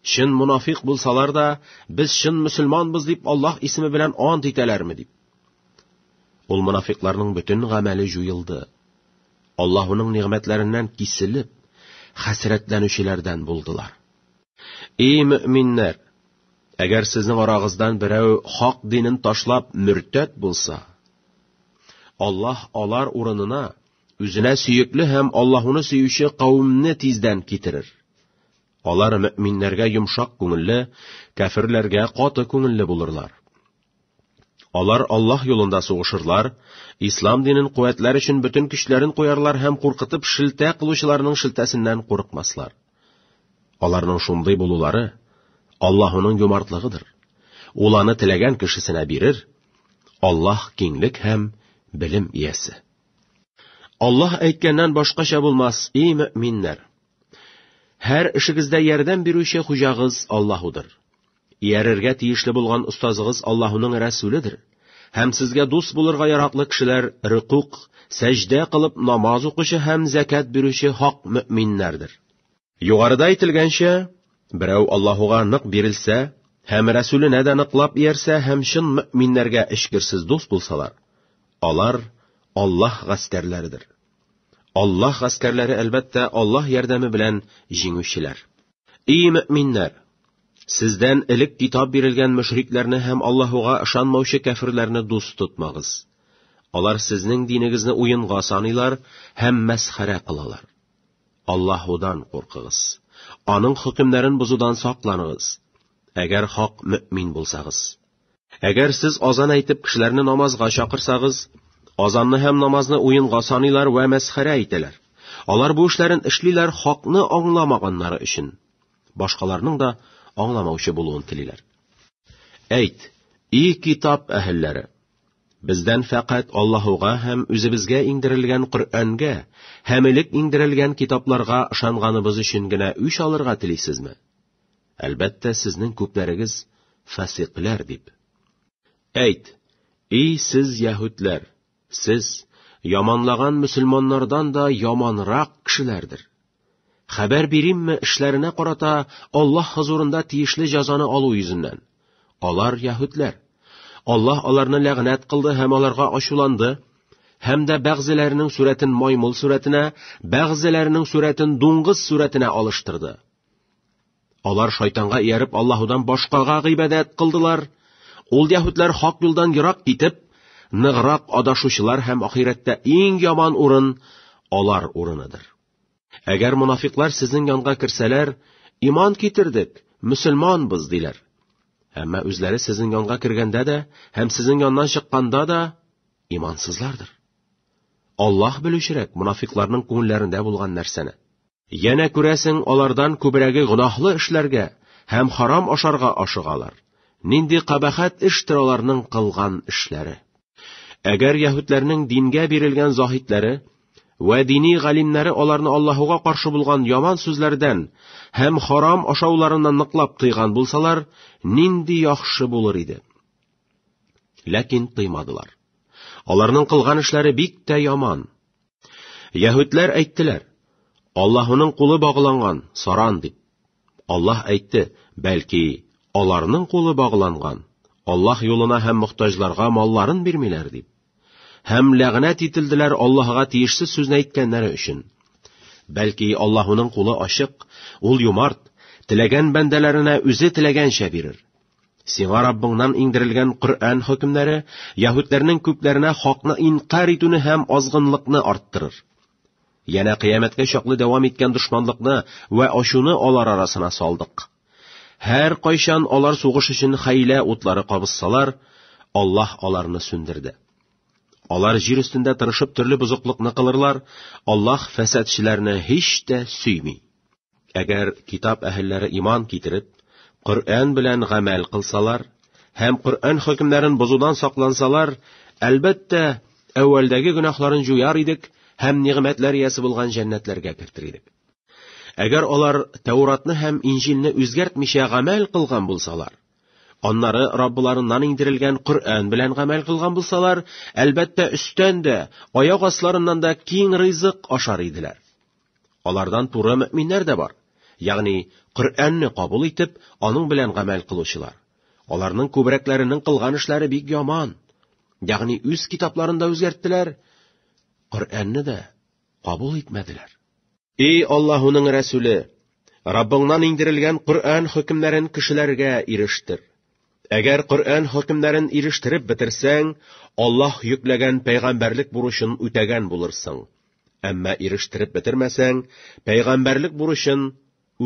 Чын мунафикъ булсалар да, без чын мөселманбыз дип Аллаһ исеме белән ант итәләрме дип. Ул мунафикъларның бөтен гамәле җуелды. Аллаһуның нигъмәтләреннән киселеп, хәсрәтләнүчеләрдән булдылар. И мөэминнәр, әгәр сезнең арагыздан берәү хак динен ташлап мөртәт булса, Аллаһ алар урынына Үзенә сөекле һәм Аллаһуны сөюче кавымны тиздән китерер. Алар мөминнәргә йомшак күңелле, кәфирләргә каты күңелле булырлар. Алар Аллаһ юлында сугышырлар, ислам динен куәтләр өчен бөтен көчләрен куярлар һәм куркытып шелтә кылучыларның шелтәсеннән курыкмаслар. Аларның шундый булулары Аллаһуның юмартлыгыдыр. Ул аны теләгән кешесенә бирер. Аллаһ киңлек һәм белем иясе. Аллаһ әйткәннән башкача булмас, и мөминнәр. Һәр эшегездә ярдәм бирүче хуҗагыз Аллаһудыр. Иярергә тиешле булган остазыгыз Аллаһуның рәсүледер. Һәм сезгә дус булырга яраклы кешеләр рөкук, сәҗдә кылып намаз укучы һәм закят бирүче хак мөминнәрдер. Югарыда әйтелгәнчә, берәү Аллаһуга нык бирелсә һәм Рәсүленә дә ныклап иярсә һәм чын мөэминнәргә эчкерсез дус булсалар, алар Аллаһ гаскәрләридер. Аллаһ гаскәрләре, әлбәттә, Аллаһ ярдәме белән җиңүчеләр. И мөэминнәр! Сездән элек китап бирелгән мөшрикләрне һәм Аллаһуга ышанмаучы кәфирләрне дус тотмагыз. Алар сезнең динегезне уенга саныйлар һәм мәсхәрә кылалар. Аллаһудан куркыгыз. Аның хөкемнәрен бозудан сакланыгыз. Әгәр хак мөэмин булсагыз. Әгәр сез азан әйтеп кешеләрне намазга чакырсагыз, азанны һәм намазны уенга саныйлар вә мәсхәрә итәләр. Алар бу эшләрен эшлиләр хакны аңламаганнары өчен. Башкаларның да аңламаучы булуын телиләр. Әйт, и китап әһелләре, Бездән фәкать Аллаһуга һәм үзебезгә иңдерелгән Коръәнгә һәм элек иңдерелгән китапларга ышанганыбыз өчен генә үч алырга телисезме? Әлбәттә, сезнең күпләрегез фасикләр дип. Әйт, и сез яһүдләр, сез яманлаган мөселманнардан да яманрак кешеләрдер. Хәбәр биримме эшләренә карата Аллаһ хозурында тиешле җәзаны алу йөзеннән? Алар яһүдләр. Аллаһ аларны ләгънәт кылды һәм аларга ачуланды, һәм дә бәгъзеләренең сурәтен маймыл сурәтенә, бәгъзеләренең сурәтен дуңгыз сурәтенә алыштырды. Алар шайтанга ияреп Аллаһудан башкага гыйбадәт кылдылар. Ул яһүдләр хак юлдан ерак китеп, ныграк адашучылар һәм ахирәттә иң яман урын алар урыныдыр. Әгәр монафиклар сезнең янга керсәләр, иман китердек, мөселманбыз диләр. Әмма үзләре сезнең янга кергәндә дә һәм сезнең яннан чыкканда да имансызлардыр. Аллаһ белүчерәк монафикларның күңелләрендә булган нәрсәне. Янә күрәсең, алардан күбрәге гөнаһлы эшләргә һәм харам ашарга ашыгалар. Нинди кабахәт эштер аларның кылган эшләре. Әгәр яһүдләрнең дингә бирелгән заһидләре вә дини галимнәре аларны Аллаһуга каршы булган яман сүзләрдән һәм харам ашауларыннан ныклап тыйган булсалар, нинди яхшы булыр иде. Ләкин тыймадылар. Аларның кылган эшләре бик тә яман. Яһүдләр әйттеләр, Аллаһының кулы багланган, саран дип. Аллаһ әйтте, бәлки, аларның кулы багланган, Аллаһ юлына һәм мохтаҗларга малларын бирмиләр дип. Һәм ләгънәт ителделәр Аллаһга тиешсез сүзне әйткәннәре өчен. Бәлки, Аллаһының кулы ачык, ул юмарт, теләгән бәндәләренә үзе теләгәнчә бирер. Сиңа Раббыңнан иңдерелгән Коръән хөкемнәре яһүдләрнең күпләренә хакны инкар итүне һәм азгынлыкны арттырыр. Янә кыямәткә чаклы дәвам иткән дошманлыкны вә ачуны алар арасына салдык. Һәр кайчан алар сугыш өчен хәйлә утлары кабызсалар, Аллаһ аларны сүндерде. Алар җир өстендә тырышып төрле бозыклыкны кылырлар, Аллаһ фәсәдчеләрне һич тә сөйми. Әгәр китап әһелләре иман китереп, Коръән белән гамәл кылсалар һәм Коръән хөкемнәрен бозудан саклансалар, әлбәттә, әүвәлдәге гөнаһларын җуяр идек һәм нигъмәтләр иясе булган җәннәтләргә кертер идек. Әгәр алар Тәуратны һәм Инҗилне үзгәртмичә гамәл кылган булсалар, аннары Раббыларыннан иңдерелгән Коръән белән гамәл кылган булсалар, әлбәттә, өстән дә, аяк асларыннан да киң ризык ашар иделәр. Алардан туры мөэминнәр дә бар, ягъни Коръәнне кабул итеп, аның белән гамәл кылучылар. Аларның күбрәкләренең кылган эшләре бик яман. Ягъни үз китапларын да үзгәрттеләр, Коръәнне дә кабул итмәделәр. Эй Аллаһуның Рәсүле! Раббыңнан иңдерелгән Коръән хөкемнәрен кешеләргә ирештер. Әгәр Коръән хөкемнәрен ирештереп бетерсәң, Аллаһ йөкләгән пәйгамбәрлек бурычын үтәгән булырсың. Әмма ирештереп бетермәсәң, пәйгамбәрлек бурычын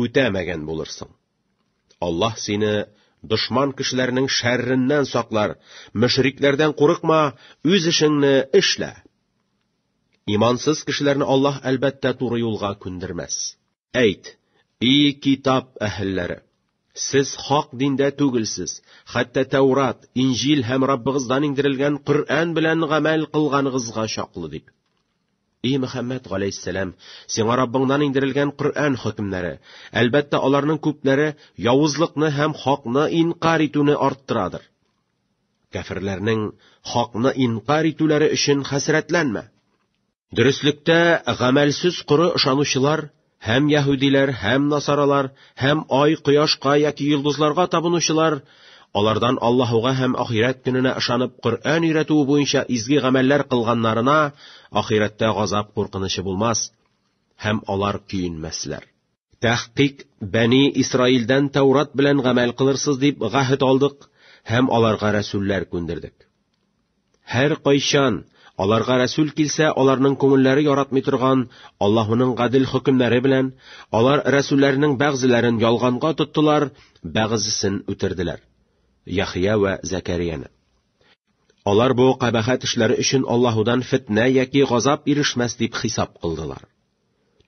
үтәмәгән булырсың. Аллаһ сине дошман кешеләрнең шәрреннән саклар, мөшрикләрдән курыкма, үз эшеңне эшлә. Имансыз кешеләрне Аллаһ әлбәттә туры юлга күндермәс. Әйт, и Китап әһелләре! Сез хак диндә түгелсез, хәтта Тәүрат, Инҗил һәм Раббыгыздан иңдерелгән Коръән белән гамәл кылганыгызга чаклы дип. И Мөхәммәд галәйһиссәлам, сиңа Раббыңнан иңдерелгән Коръән хөкемнәре, әлбәттә, аларның күпләре явызлыкны һәм хакны инкар итүне арттырадыр. Кәферләрнең хакны инкар итүләре өчен хәсрәтләнмә. Дөреслектә гамәлсез коры ышанучылар һәм яһүдиләр, һәм насаралар, һәм ай, кояшка яки йолдызларга табынучылар, алардан Аллаһуга һәм ахирәт көненә ышанып Коръән өйрәтүе буенча изге гамәлләр кылганнарына ахирәттә газап куркынычы булмас һәм алар көенмәсләр. Тәхкыйк, Бәни Исраилдән Тәурат белән гамәл кылырсыз дип гәһет алдык һәм аларга рәсүлләр күндердек. Һәр кайчан аларга рәсүл килсә, аларның күңелләре яратмый торган Аллаһуның гадел хөкемнәре белән, алар рәсүлләрнең бәгъзеләрен ялганга тоттылар, бәгъзесен үтерделәр. Яхия ва Закарияне. Алар бу кабахәт эшләре өчен Аллаһудан фетнә яки газап ирешмәс дип хисап кылдылар.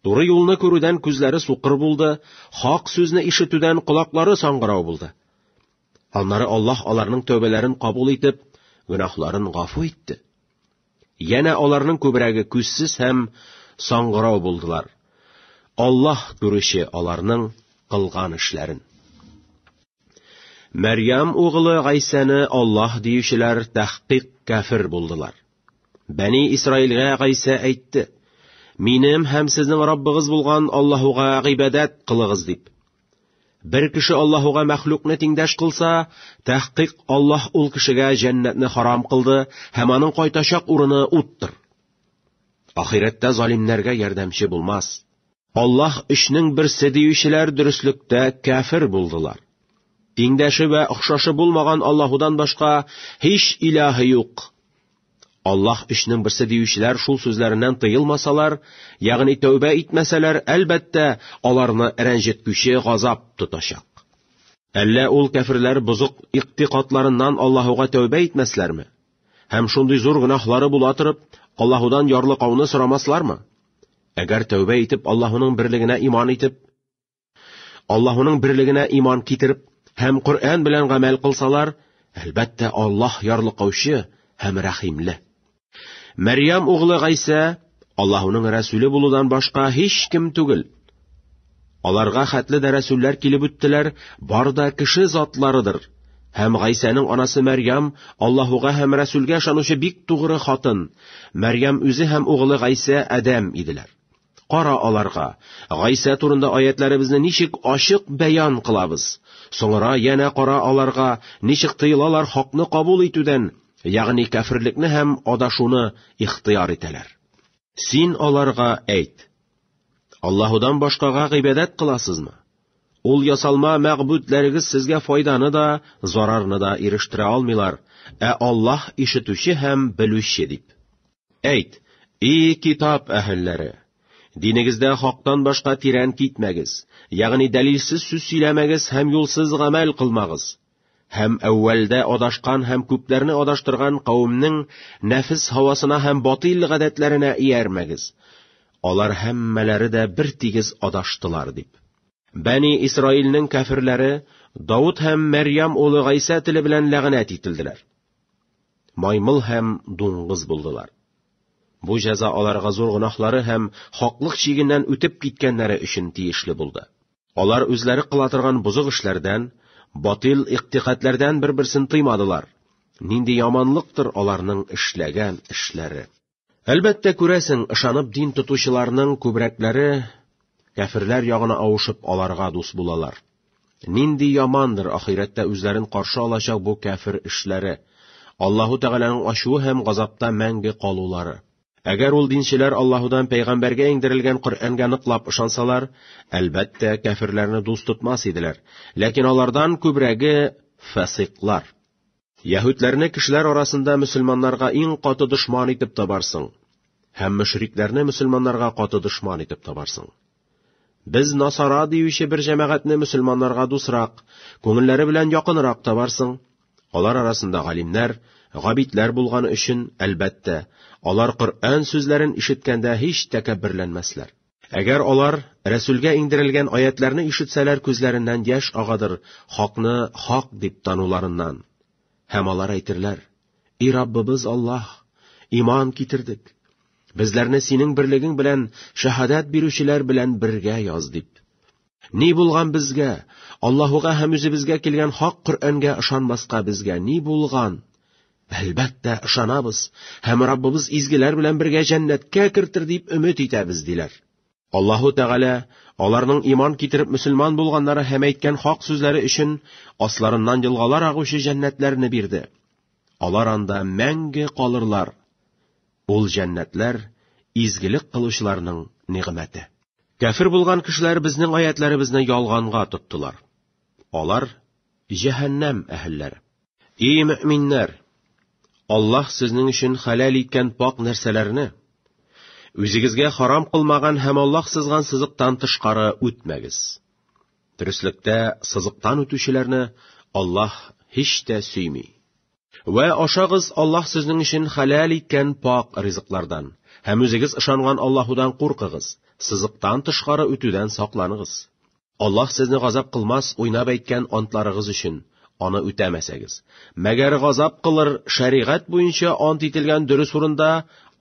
Туры юлны күрүдән күзләре сукыр булды, хак сүзне ишетүдән колаклары саңгырау булды. Аннары Аллаһ аларның тәүбәләрен кабул итеп, гөнаһларын гафу итте. Янә аларның күбрәге күзсез һәм саңгырау булдылар. Аллаһ күрүче аларның кылган эшләрен. Мәрьям угылы Гайсәне Аллаһ диючеләр тәхкыйк кафир булдылар. Бәни Исраилгә Гайсә әйтте, «Минем һәм сезнең Раббыгыз булган Аллаһуга гыйбадәт кылыгыз» дип. Бер кеше Аллаһуга мәхлукны тиңдәш кылса, тәхкыйк Аллаһ ул кешегә җәннәтне харам кылды һәм аның кайтачак урыны уттыр. Ахирәттә залимнәргә ярдәмче булмас. Аллаһ өчнең берсе диючеләр дөреслектә кәфер булдылар. Тиңдәше вә охшашы булмаган Аллаһудан башка һич илаһы юк. Аллаһ өчнең берсе диючеләр шул сүзләреннән тыелмасалар, ягъни тәүбә итмәсәләр, әлбәттә, аларны рәнҗеткүче газап тотачак. Әллә ул кәферләр бозык иктикатларыннан Аллаһуга тәүбә итмәсләрме? Һәм шундый зур гөнаһлары була торып, Аллаһудан ярлыкауны сорамаслармы? Әгәр тәүбә итеп Аллаһуның берлегенә иман итеп, Аллаһуның берлегенә иман китереп һәм Коръән белән гамәл кылсалар, әлбәттә, Аллаһ ярлыкаучы һәм рәхимле. Мәрьям углы Гайсә Аллаһуның рәсүле булудан башка һич кем түгел. Аларга хәтле дә рәсүлләр килеп үттеләр, бар да кеше затларыдыр. Һәм Гайсәнең анасы Мәрьям, Аллаһуга һәм рәсүлгә ышанучы бик тугры хатын. Мәрьям үзе һәм угылы Гайсә Адәм иделәр. Кара аларга. Гайсә турында аятларыбызны ничек ачык бәян кылабыз. Соңра янә кара аларга, ничек тыелалар хакны кабул итүдән, ягъни кәфирлекне һәм адашуны ихтыяр итәләр. Син аларга әйт. Аллаһудан башкага гыйбадәт кыласызмы? Ул ясалма мәгъбүдләрегез сезгә файданы да, зарарны да ирештерә алмыйлар, ә Аллаһ ишетүче һәм белүче дип. Әйт, и китап әһелләре, динегездә хактан башка тирән китмәгез, ягъни дәлилсез сүз сөйләмәгез һәм юлсыз гамәл кылмагыз. Һәм әүвәлдә адашкан һәм күпләрне адаштырган кавемнең нәфес һавасына һәм батил гадәтләренә иярмәгез. Алар һәммәләре дә бер тигез адаштылар дип. Бәни Исраилнең кәферләре Давыт һәм Мәрьям улы Гайсә теле белән ләгънәт ителделәр. Маймыл һәм дуңгыз булдылар. Бу җәза аларга зур гөнаһлары һәм хаклык чигеннән үтеп киткәннәре өчен тиешле булды. Алар үзләре кыла торган бозык эшләрдән, батил иктикадләрдән бер-берсен тыймадылар. Нинди яманлыктыр аларның эшләгән эшләре. Әлбәттә, күрәсең, ышанып дин тотучыларның күбрәкләре кәферләр ягына авышып, аларга дус булалар. Нинди ямандыр ахирәттә үзләрен каршы алачак бу кәфер эшләре, Аллаһу Тәгаләнең ачуы һәм газапта мәңге калулары. Әгәр ул динчеләр Аллаһудан пәйгамбәргә иңдерелгән Коръәнгә ныклап ышансалар, әлбәттә, кәфирләрне дус тотмас иделәр. Ләкин алардан күбрәге фасыйклар. Яһүдләрне кешеләр арасында мөселманнарга иң каты дошман итеп табарсың, һәм мөшрикләрне мөселманнарга каты дошман итеп табарсың. Без насара диюче бер җәмәгатьне мөселманнарга дусрак, күңелләре белән якынрак табарсың. Алар арасында галимнәр, габидләр булганы өчен, әлбәттә, алар Коръән сүзләрен ишеткәндә һич тәкәбберләнмәсләр. Әгәр алар Рәсүлгә иңдерелгән аятьләрне ишетсәләр күзләреннән яшь агадыр хакны хак дип тануларыннан. Һәм алар әйтерләр, И Раббыбыз Аллаһ, иман китердек, безләрне синең берлегең белән шәһадәт бирүчеләр белән бергә яз дип. Ни булган безгә, Аллаһуга һәм үзебезгә килгән хак Коръәнгә ышанмаска безгә ни булган? Әлбәттә, ышанабыз һәм Раббыбыз изгеләр белән бергә җәннәткә кертер дип өмет итәбез, диләр. Аллаһу Тәгалә аларның иман китереп мөселман булганнары һәм әйткән хак сүзләре өчен асларыннан елгалар агучы җәннәтләрне бирде. Алар анда мәңге калырлар. Ул җәннәтләр изгелек кылучыларның нигъмәте. Кәфир булган кешеләр безнең аятләребезне ялганга тоттылар. Алар җәһәннәм әһелләре. И мөминнәр! Аллаһ сезнең өчен хәләл иткән пак нәрсәләрне үзегезгә харам кылмаган һәм Аллаһ сызган сызыктан тышкары үтмәгез. Төреслектә сызыктан үтүчеләрне Аллаһ һич тә сөйми. Вә ашагыз Аллаһ сезнең өчен хәләл иткән пак ризыклардан һәм үзегез ышанган Аллаһудан куркыгыз, сызыктан тышкары үтүдән сакланыгыз. Аллаһ сезне газап кылмас уйнап әйткән антларыгыз өчен, аны үтәмәсәгез. Мәгәр газап кылыр, шәригать буенча ант ителгән дөрес урында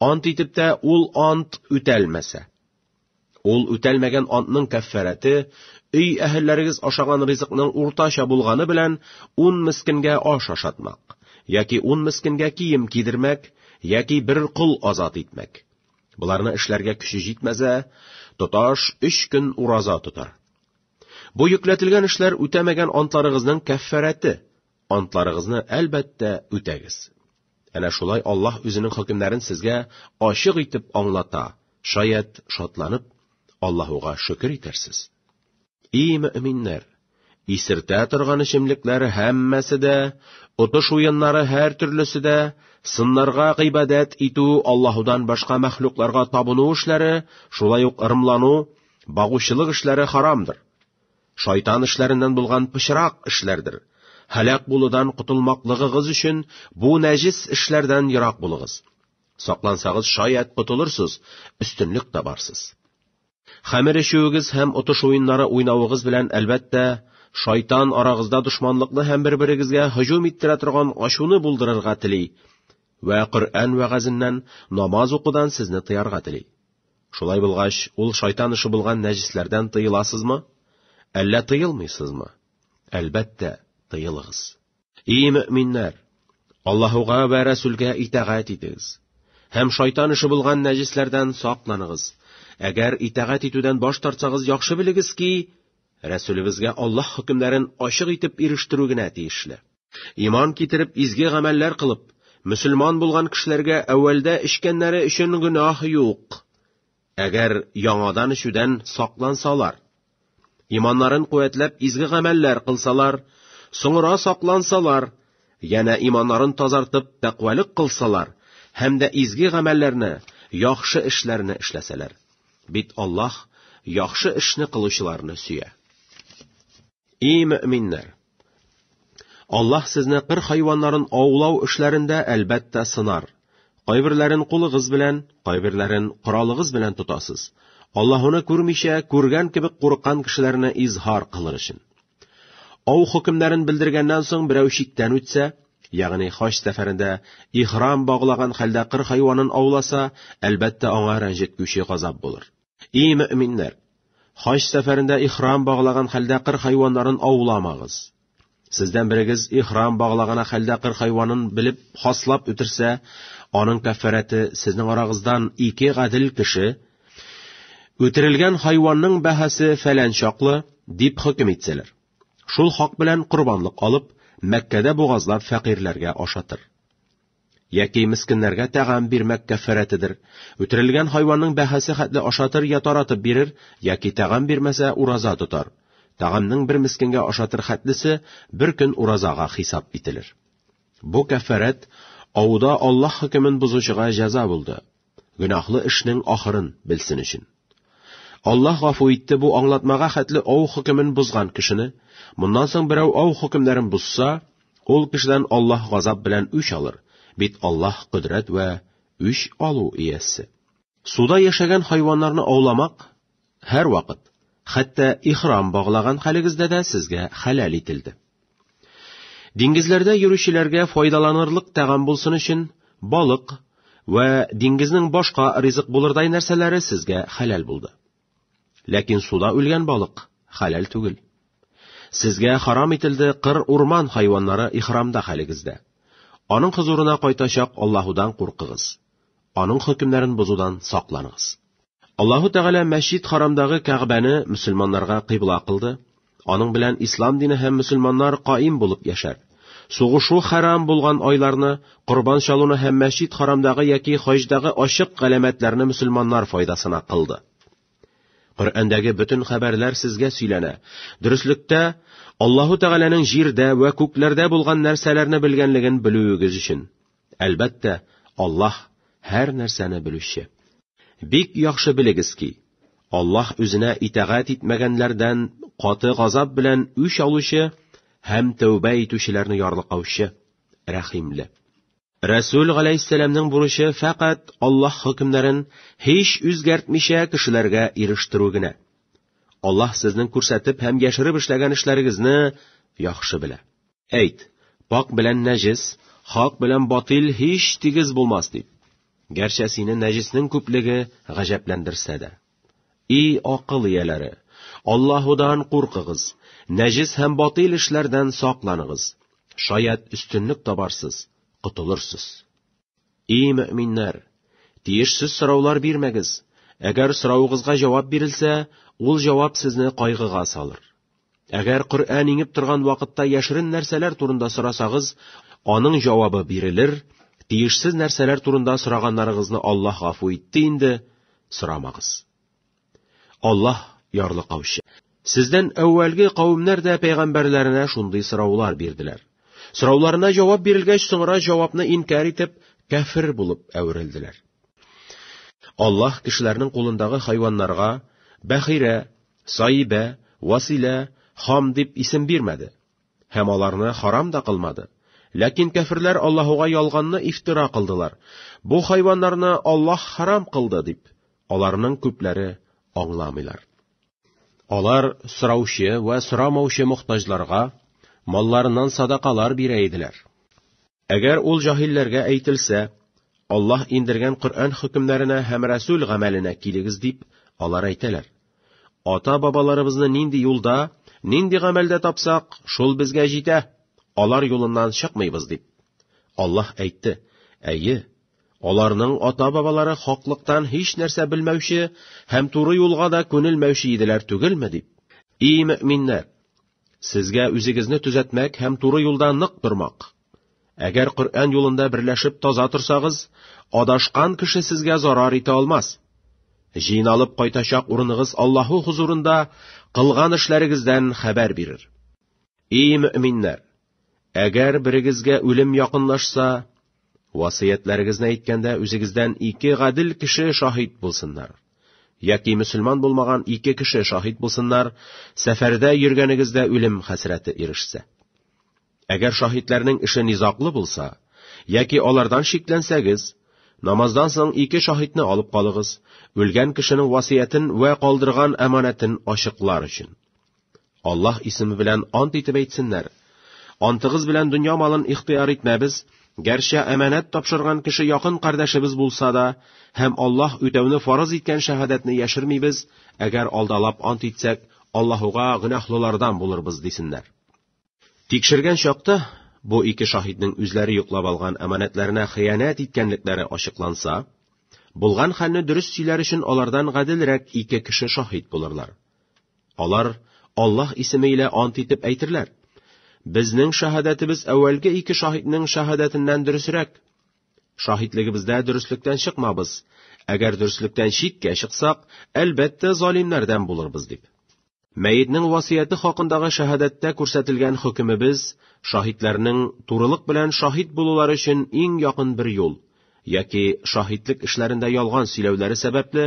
ант итеп тә ул ант үтәлмәсә. Ул үтәлмәгән антның кәффәрәте, өй әһелләрегез ашаган ризыкның уртача булганы белән 10 мескенгә аш ашатмак, яки 10 мескенгә кием кидермәк, яки бер кол азат итмәк. Боларны эшләргә көче җитмәсә, тоташ өч көн ураза тотар. Бу йөкләтелгән эшләр үтәмәгән антларыгызның кәффәрәте. Антларыгызны, әлбәттә, үтәгез. Әнә шулай Аллаһ үзенең хөкемнәрен сезгә ачык итеп аңлата. Шаят, шатланып, Аллаһуга шөкер итәрсез. И мөминнәр! Исертә торган эчемлекләре һәммәсе дә, отыш уеннары һәр төрлесе дә, сыннарга гыйбадәт итү, Аллаһудан башка мәхлукларга табыну эшләре, шулай ук ырымлану, багучылык эшләре харамдыр. Шайтан эшләреннән булган пычрак эшләрдер. Һәлак булудан котылмаклыгыгыз өчен бу нәҗис эшләрдән ерак булыгыз. Саклансагыз, шаят котылырсыз, өстенлек табарсыз. Хәмер эчүегез һәм отыш уеннары уйнавыгыз белән, әлбәттә, Шайтан арагызда дошманлыкны һәм бер-берегезгә һөҗүм иттерә торган ачуны булдырырга тели вә Коръән вәгазеннән, намаз укудан сезне тыярга тели. Шулай булгач, ул шайтан эше булган нәҗесләрдән тыеласызмы? Әллә тыелмыйсызмы? Әлбәттә, тыелыгыз. И мөминнәр! Аллаһуга вә Рәсүлгә итәгать итегез. Һәм шайтан эше булган нәҗисләрдән сакланыгыз. Әгәр итәгать итүдән баш тартсагыз, яхшы белегез ки, Рәсүлебезгә Аллаһ хөкемнәрен ачык итеп ирештерү генә тиешле. Иман китереп, изге гамәлләр кылып, мөселман булган кешеләргә әүвәлдә эчкәннәре өчен гөнаһ юк. Әгәр яңадан эчүдән саклансалар, иманнарын куәтләп изге гамәлләр кылсалар, соңра саклансалар, янә иманнарын тазартып тәкъвалык кылсалар һәм дә изге гамәлләрне, яхшы эшләрне эшләсәләр. Бит Аллаһ яхшы эшне кылучыларны сөя. Эй мөминнәр! Аллаһ сезне кыр хайваннарын аулау эшләрендә әлбәттә сынар. Кайберләрен кулыгыз белән, кайберләрен коралыгыз белән тотасыз. Аллаһуны күрмичә, күргән кебек курыккан кешеләрне изһар кылыр өчен. Ау хөкемнәрен белдергәннән соң берәү чиктән үтсә, ягъни хаҗ сәфәрендә ихрам баглаган хәлдә кыр хайванын ауласа, әлбәттә аңа рәнҗеткүче газап булыр. И мөминнәр! Хаҗ сәфәрендә ихрам баглаган хәлдә кыр хайваннарын ауламагыз. Сездән берегез ихрам баглагана хәлдә кыр хайванын белеп хаслап үтерсә, аның кәффәрәте сезнең арагыздан ике гадел кеше үтерелгән хайванның бәһасе фәлән чаклы дип хөкем итсәләр. Шул хак белән корбанлык алып, Мәккәдә бугазлап фәкыйрьләргә ашатыр. Яки мескеннәргә тәгам бирмәк кәффәрәтедер. Үтерелгән хайванның бәһасе хәтле ашатыр я таратып бирер, яки тәгам бирмәсә, ураза тотар. Тәгамның бер мескенгә ашатыр хәтлесе бер көн уразага хисап ителер. Бу кәффәрәт Ауда Аллаһ хөкемен бозучыга җәза булды. Гөнаһлы эшнең ахырын белсен өчен. Аллаһ гафу итте бу аңлатмага хәтле ау хөкемен бозган кешене. Моннан соң берәү ау хөкемнәрен бозса, ул кешедән Аллаһ газап белән үч алыр, бит Аллаһ кодрәт вә үч алу иясе. Суда яшәгән хайваннарны ауламак, Һәрвакыт, хәтта ихрам баглаган хәлегездә дә сезгә хәләл ителде. Диңгезләрдә йөрүчеләргә файдаланырлык тәгам булсын өчен балык вә диңгезнең башка ризык булырдай нәрсәләре сезгә хәләл булды. Ләкин суда үлгән балык хәләл түгел. Сезгә харам ителде кыр урман хайваннары ихрамда хәлегездә. Аның хозурына кайтачак Аллаһудан куркыгыз. Аның хөкемнәрен бозудан сакланыгыз. Аллаһу Тәгалә Мәчит Харамдагы Кәгъбәне мөселманнарга кыйбла кылды. Аның белән ислам дине һәм мөселманнар каим булып яшәр. Сугышу хәрам булган айларны, корбан чалуны һәм Мәчит Харамдагы яки хаҗдагы ачык галәмәтләрне мөселманнар файдасына кылды. Коръәндәге бөтен хәбәрләр сезгә сөйләнә. Дөреслектә Аллаһу Тәгаләнең җирдә вә күкләрдә булган нәрсәләрне белгәнлеген белүегез өчен. Әлбәттә, Аллаһ һәр нәрсәне белүче. Бик яхшы белегез ки, Аллаһ үзенә итагать итмәгәннәрдән каты газап белән үч алучы һәм тәүбә итүчеләрне ярлыкаучы, рәхимле. Рәсүл галәйһиссәламнең бурычы фәкать Аллаһ хөкемнәрен һич үзгәртмичә кешеләргә ирештерү генә. Аллаһ сезнең күрсәтеп һәм яшереп эшләгән эшләрегезне яхшы белә. Әйт, пакь белән нәҗес, хак белән батил һич тигез булмас, дип. Гәрчә сине нәҗеснең күплеге гаҗәпләндерсә дә. И акыл ияләре! Аллаһудан куркыгыз, нәҗес һәм батил эшләрдән сакланыгыз. Шаят өстенлек табарсыз, котылырсыз. И мөминнәр, тиешсез сораулар бирмәгез. Әгәр соравыгызга җавап бирелсә, ул җавап сезне кайгыга салыр. Әгәр Коръән иңеп торган вакытта яшерен нәрсәләр турында сорасагыз, аның җавабы бирелер, тиешсез нәрсәләр турында сораганнарыгызны Аллаһ гафу итте инде, сорамагыз. Аллаһ ярлыкаучы. Сездән әүвәлге кавемнәр дә пәйгамбәрләренә шундый сораулар бирделәр. Сорауларына җавап бирелгәч, соңра җавапны инкар итеп, кәфер булып әверелделәр. Аллаһ кешеләрнең кулындагы хайваннарга Бәхирә, Саибә, Василә, Хам дип исем бирмәде. Һәм аларны харам да кылмады. Ләкин кәферләр Аллаһуга ялганны ифтира кылдылар, бу хайваннарны Аллаһ харам кылды дип. Аларның күпләре аңламыйлар. Алар сораучы вә сорамаучы мохтаҗларга малларыннан садакалар бирә иделәр. Әгәр ул җаһилләргә әйтелсә, Аллаһ индергән Коръән хөкемнәренә һәм Рәсүл гамәленә килегез дип, алар әйтәләр. Ата-бабаларыбызны нинди юлда, нинди гамәлдә тапсак, шул безгә җитә, алар юлыннан чыкмыйбыз дип. Аллаһ әйтте, әйе, аларның ата-бабалары хаклыктан һич нәрсә белмәүче һәм туры юлга да күнелмәүче иделәр түгелме дип. И мөминнәр! Сезгә үзегезне төзәтмәк һәм туры юлда нык тормак. Әгәр Коръән юлында берләшеп таза торсагыз, адашкан кеше сезгә зарар итә алмас. Җыйналып кайтачак урыныгыз Аллаһу хузурында кылган эшләрегездән хәбәр бирер. И мөэминнәр, Әгәр берегезгә үлем якынлашса, васыятләрегезне әйткәндә үзегездән ике гадел кеше шаһит булсыннар. Яки мөселман булмаган ике кеше шаһит булсыннар, сәфәрдә йөргәнегездә үлем хәсрәте ирешсә. Әгәр шаһитләрнең эше низаклы булса, яки алардан шикләнсәгез, намаздан соң ике шаһитны алып калыгыз, үлгән кешенең васыятен вә калдырган әманәтен ачыклар өчен. Аллаһ исеме белән ант итеп әйтсеннәр. Антыгыз белән дөнья малын ихтыяр итмәбез, гәрчә әманәт тапшырган кеше якын кардәшебез булса да, һәм Аллаһ үтәүне фарыз иткән шәһадәтне яшермибез, әгәр алдалап ант итсәк, Аллаһуга гөнаһлылардан булырбыз, дисеннәр. Тикшергән чакта бу ике шаһитнең үзләре йоклап алган әманәтләренә хыянәт иткәнлекләре ачыкланса, булган хәлне дөрес сөйләр өчен алардан гаделрәк ике кеше шаһит булырлар. Алар Аллаһ исеме илә ант итеп әйтерләр: Безнең шаһадәтебез әүвәлге ике шаһитнең шаһадәтеннән дөресрәк. Шаһитлегебездә дөреслектән чыкмабыз. Әгәр дөреслектән читкә чыксак, әлбәттә, залимнәрдән булырбыз дип. Мәетнең васыяте хакындагы шәһадәттә күрсәтелгән хөкемебез шаһитләрнең турылык белән шаһит булулары өчен иң якын бер юл, яки шаһитлек эшләрендә ялган сөйләүләре сәбәпле,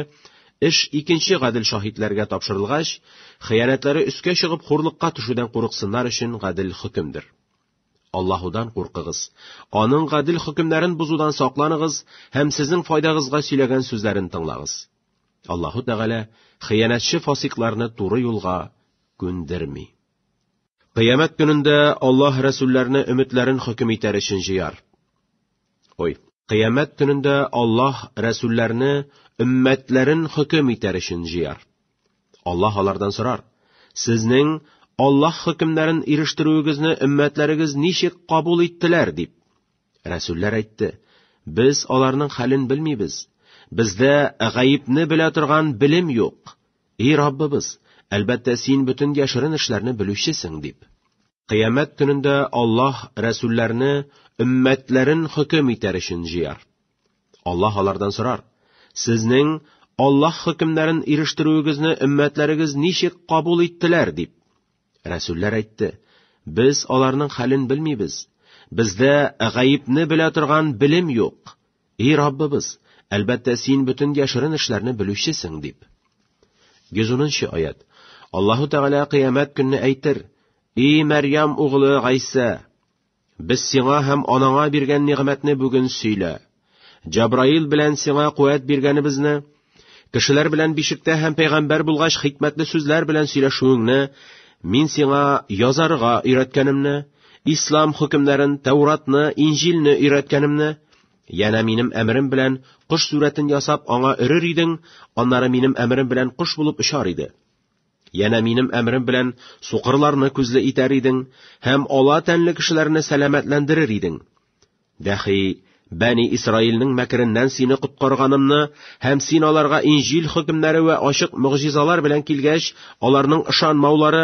эш икенче гадел шаһитләргә тапшырылгач, хыянәтләре өскә чыгып хурлыкка төшүдән курыксыннар өчен гадел хөкемдер. Аллаһудан куркыгыз, аның гадел хөкемнәрен бозудан сакланыгыз һәм сезнең файдагызга сөйләгән сүзләрен тыңлагыз. Аллаһу Тәгалә хыянәтче фасикларны туры юлга күндерми. Кыямәт көнендә Аллаһ рәсүлләрне өметләрен хөкем итәр өчен җыяр. Ой, кыямәт көнендә Аллаһ рәсүлләрне өммәтләрен хөкем итәр өчен җыяр. Аллаһ алардан сорар: "Сезнең Аллаһ хөкемнәрен ирештерүегезне өммәтләрегез ничек кабул иттеләр?" дип. Рәсүлләр әйтте, Без аларның хәлен белмибез. Бездә гаепне белә торган белем юк. И Раббыбыз, әлбәттә син бөтен яшерен эшләрне белүчесең, дип. Кыямәт көнендә Аллаһ рәсүлләрне өммәтләрен хөкем итәр өчен җыяр. Аллаһ алардан сорар, Сезнең Аллаһ хөкемнәрен ирештерүегезне өммәтләрегез ничек кабул иттеләр, дип. Рәсүлләр әйтте, Без аларның хәлен белмибез. Бездә гаепне белә торган белем юк. И Раббыбыз, әлбәттә син бөтен яшерен эшләрне белүчесең, дип. 110 аят. Аллаһу Тәгалә кыямәт көнне әйтер, И Мәрьям углы Гайсә, Без сиңа һәм анаңа биргән нигъмәтне бүген сөйлә. Җабраил белән сиңа куәт биргәнебезне, кешеләр белән бишектә һәм пәйгамбәр булгач хикмәтле сүзләр белән сөйләшүеңне, мин сиңа язарга өйрәткәнемне, ислам хөкемнәрен, Тәуратны, Инҗилне өйрәткәнемне, Яна минем әмерем белән кош сүрәтен ясап аңа өрер идең, аннары минем әмерем белән кош булып очар иде. Янә минем әмрем белән сукырларны күзле итәр идең һәм ала тәнле кешеләрне сәламәтләндерер идең. Дәхи, Бәни Исраилнең мәкереннән сине коткарганымны һәм син аларга инҗил хөкемнәре вә ачык мөгъҗизалар белән килгәч, аларның ышанмаулары,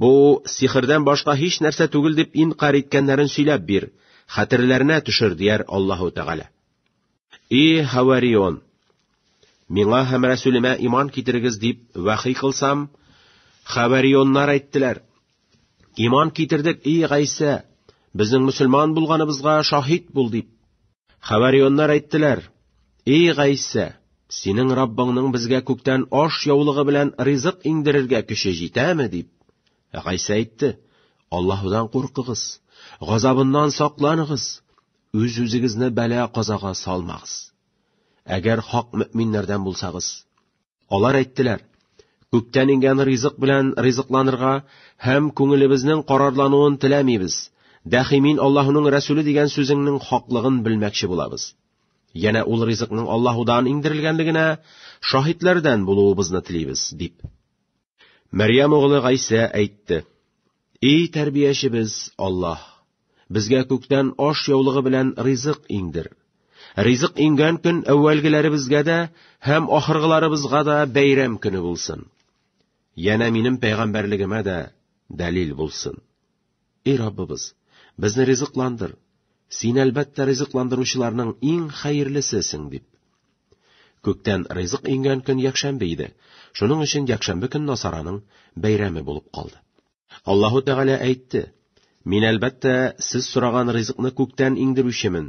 бу сихрдән башка һич нәрсә түгел дип инкарь иткәннәрен сөйләп бир, хәтерләренә төшер, дияр Аллаһу Тәгалә. И Хаварион! Миңа һәм Рәсүлемә иман китерегез дип вәхи кылсам, Хаварионнар әйттеләр. Иман китердек, и Гайсә, безнең мөселман булганыбызга шаһид бул дип. Хаварионнар әйттеләр, и Гайсә, синең Раббыңның безгә күктән аш яулыгы белән ризык иңдерергә көче җитәме дип. Гайсә әйтте, Аллаһудан куркыгыз, газабыннан сакланыгыз, Үз-үзегезне бәла-казага салмагыз. Әгәр хак мөэминнәрдән булсагыз. Алар әйттеләр, Күктән иңгән ризык белән ризыкланырга һәм күңелебезнең карарлануын теләмибез. Дәхи мин Аллаһуның Рәсүле дигән сүзеңнең хаклыгын белмәкче булабыз. Янә ул ризыкның Аллаһудан иңдерелгәнлегенә шаһитләрдән булуыбызны телибез, дип. Мәрьям углы Гайсә әйтте. И тәрбиячебез, Аллаһ, безгә күктән аш яулыгы белән ризык иңдер. Ризык иңгән көн әүвәлгеләребезгә дә һәм ахыргыларыбызга да бәйрәм көне булсын. Янә минем пәйгамбәрлегемә дә дәлил булсын. Эй Раббыбыз, безне ризыкландыр. Син, әлбәттә, ризыкландыручыларның иң хәерлесесең, дип. Күктән ризык иңгән көн якшәмбе иде. Шуның өчен якшәмбе көн Насараның бәйрәме булып калды. Аллаһу Тәгалә әйтте, Мин, әлбәттә, сез сораган ризыкны күктән иңдерүчемен.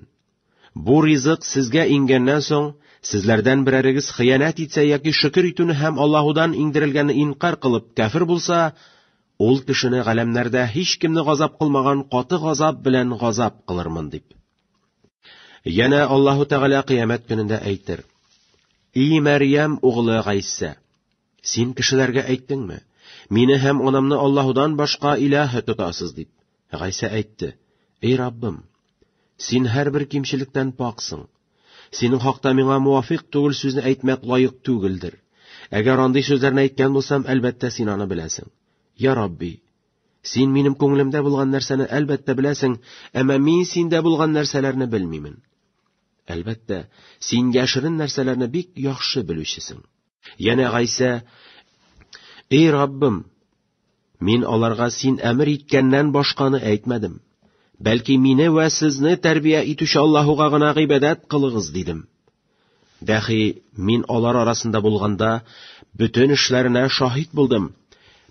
Бу ризык сезгә иңгәннән соң, сезләрдән берәрегез хыянәт итсә яки шөкер итүне һәм Аллаһудан иңдерелгәнне инкар кылып кәфер булса, ул кешене галәмнәрдә һич кемне газап кылмаган каты газап белән газап кылырмын дип. Янә Аллаһу Тәгалә кыямәт көнендә әйтер: И Мәрьям углы Гайсә, син кешеләргә әйттеңме? Мине һәм анамны Аллаһудан башка илаһ тотасыз дип. Гайсә әйтте, Эй Раббым, Син һәрбер кимчелектән паксың. Синең хакта миңа муафик түгел сүзне әйтмәк лаек түгелдер. Әгәр андый сүзләрне әйткән булсам, әлбәттә, син аны беләсең. Я Рабби, Син минем күңелемдә булган нәрсәне әлбәттә беләсең, әмма мин синдә булган нәрсәләрне белмимен. Әлбәттә, син яшерен нәрсәләрне бик яхшы белүчесең. Янә Гайсә, «Эй Раббым, мин аларга син әмер иткәннән башканы әйтмәдем. Бәлки мине вә сезне тәрбия итүче Аллаһуга гына гыйбадәт кылыгыз», дидем. Дәхи мин алар арасында булганда, бөтен эшләренә шаһит булдым.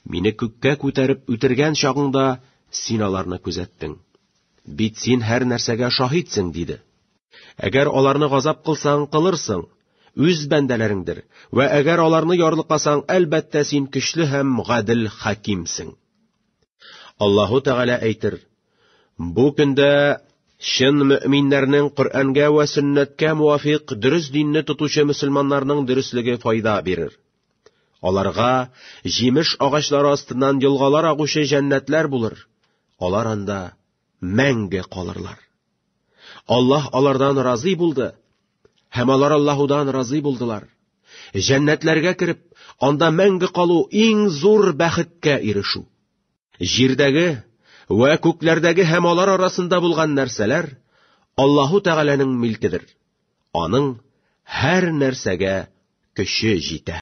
Мине күккә күтәреп үтергән чагыңда син аларны күзәттең. Бит син һәр нәрсәгә шаһитсең, диде. Әгәр аларны газап кылсаң, кылырсың, үз бәндәләреңдер, вә әгәр аларны ярлыкасаң, әлбәттә син көчле һәм гадел хакимсең. Аллаһу Тәгалә әйтер, бу көндә чын мөминнәрнең Коръәнгә вә сөннәткә муафиқ дөрес динне тотучы мөселманнарның дөреслеге файда бирер. Аларга җимеш агачлары астыннан елгалар агучы җәннәтләр булыр. Алар анда мәңге калырлар. Аллаһ алардан разый булды, һәм алар Аллаһудан разый булдылар. Җәннәтләргә кереп, анда мәңге калу иң зур бәхеткә ирешү. Җирдәге вә күкләрдәге һәм алар арасында булган нәрсәләр Аллаһу Тәгаләнең милкедер. Аның һәр нәрсәгә көче җитә.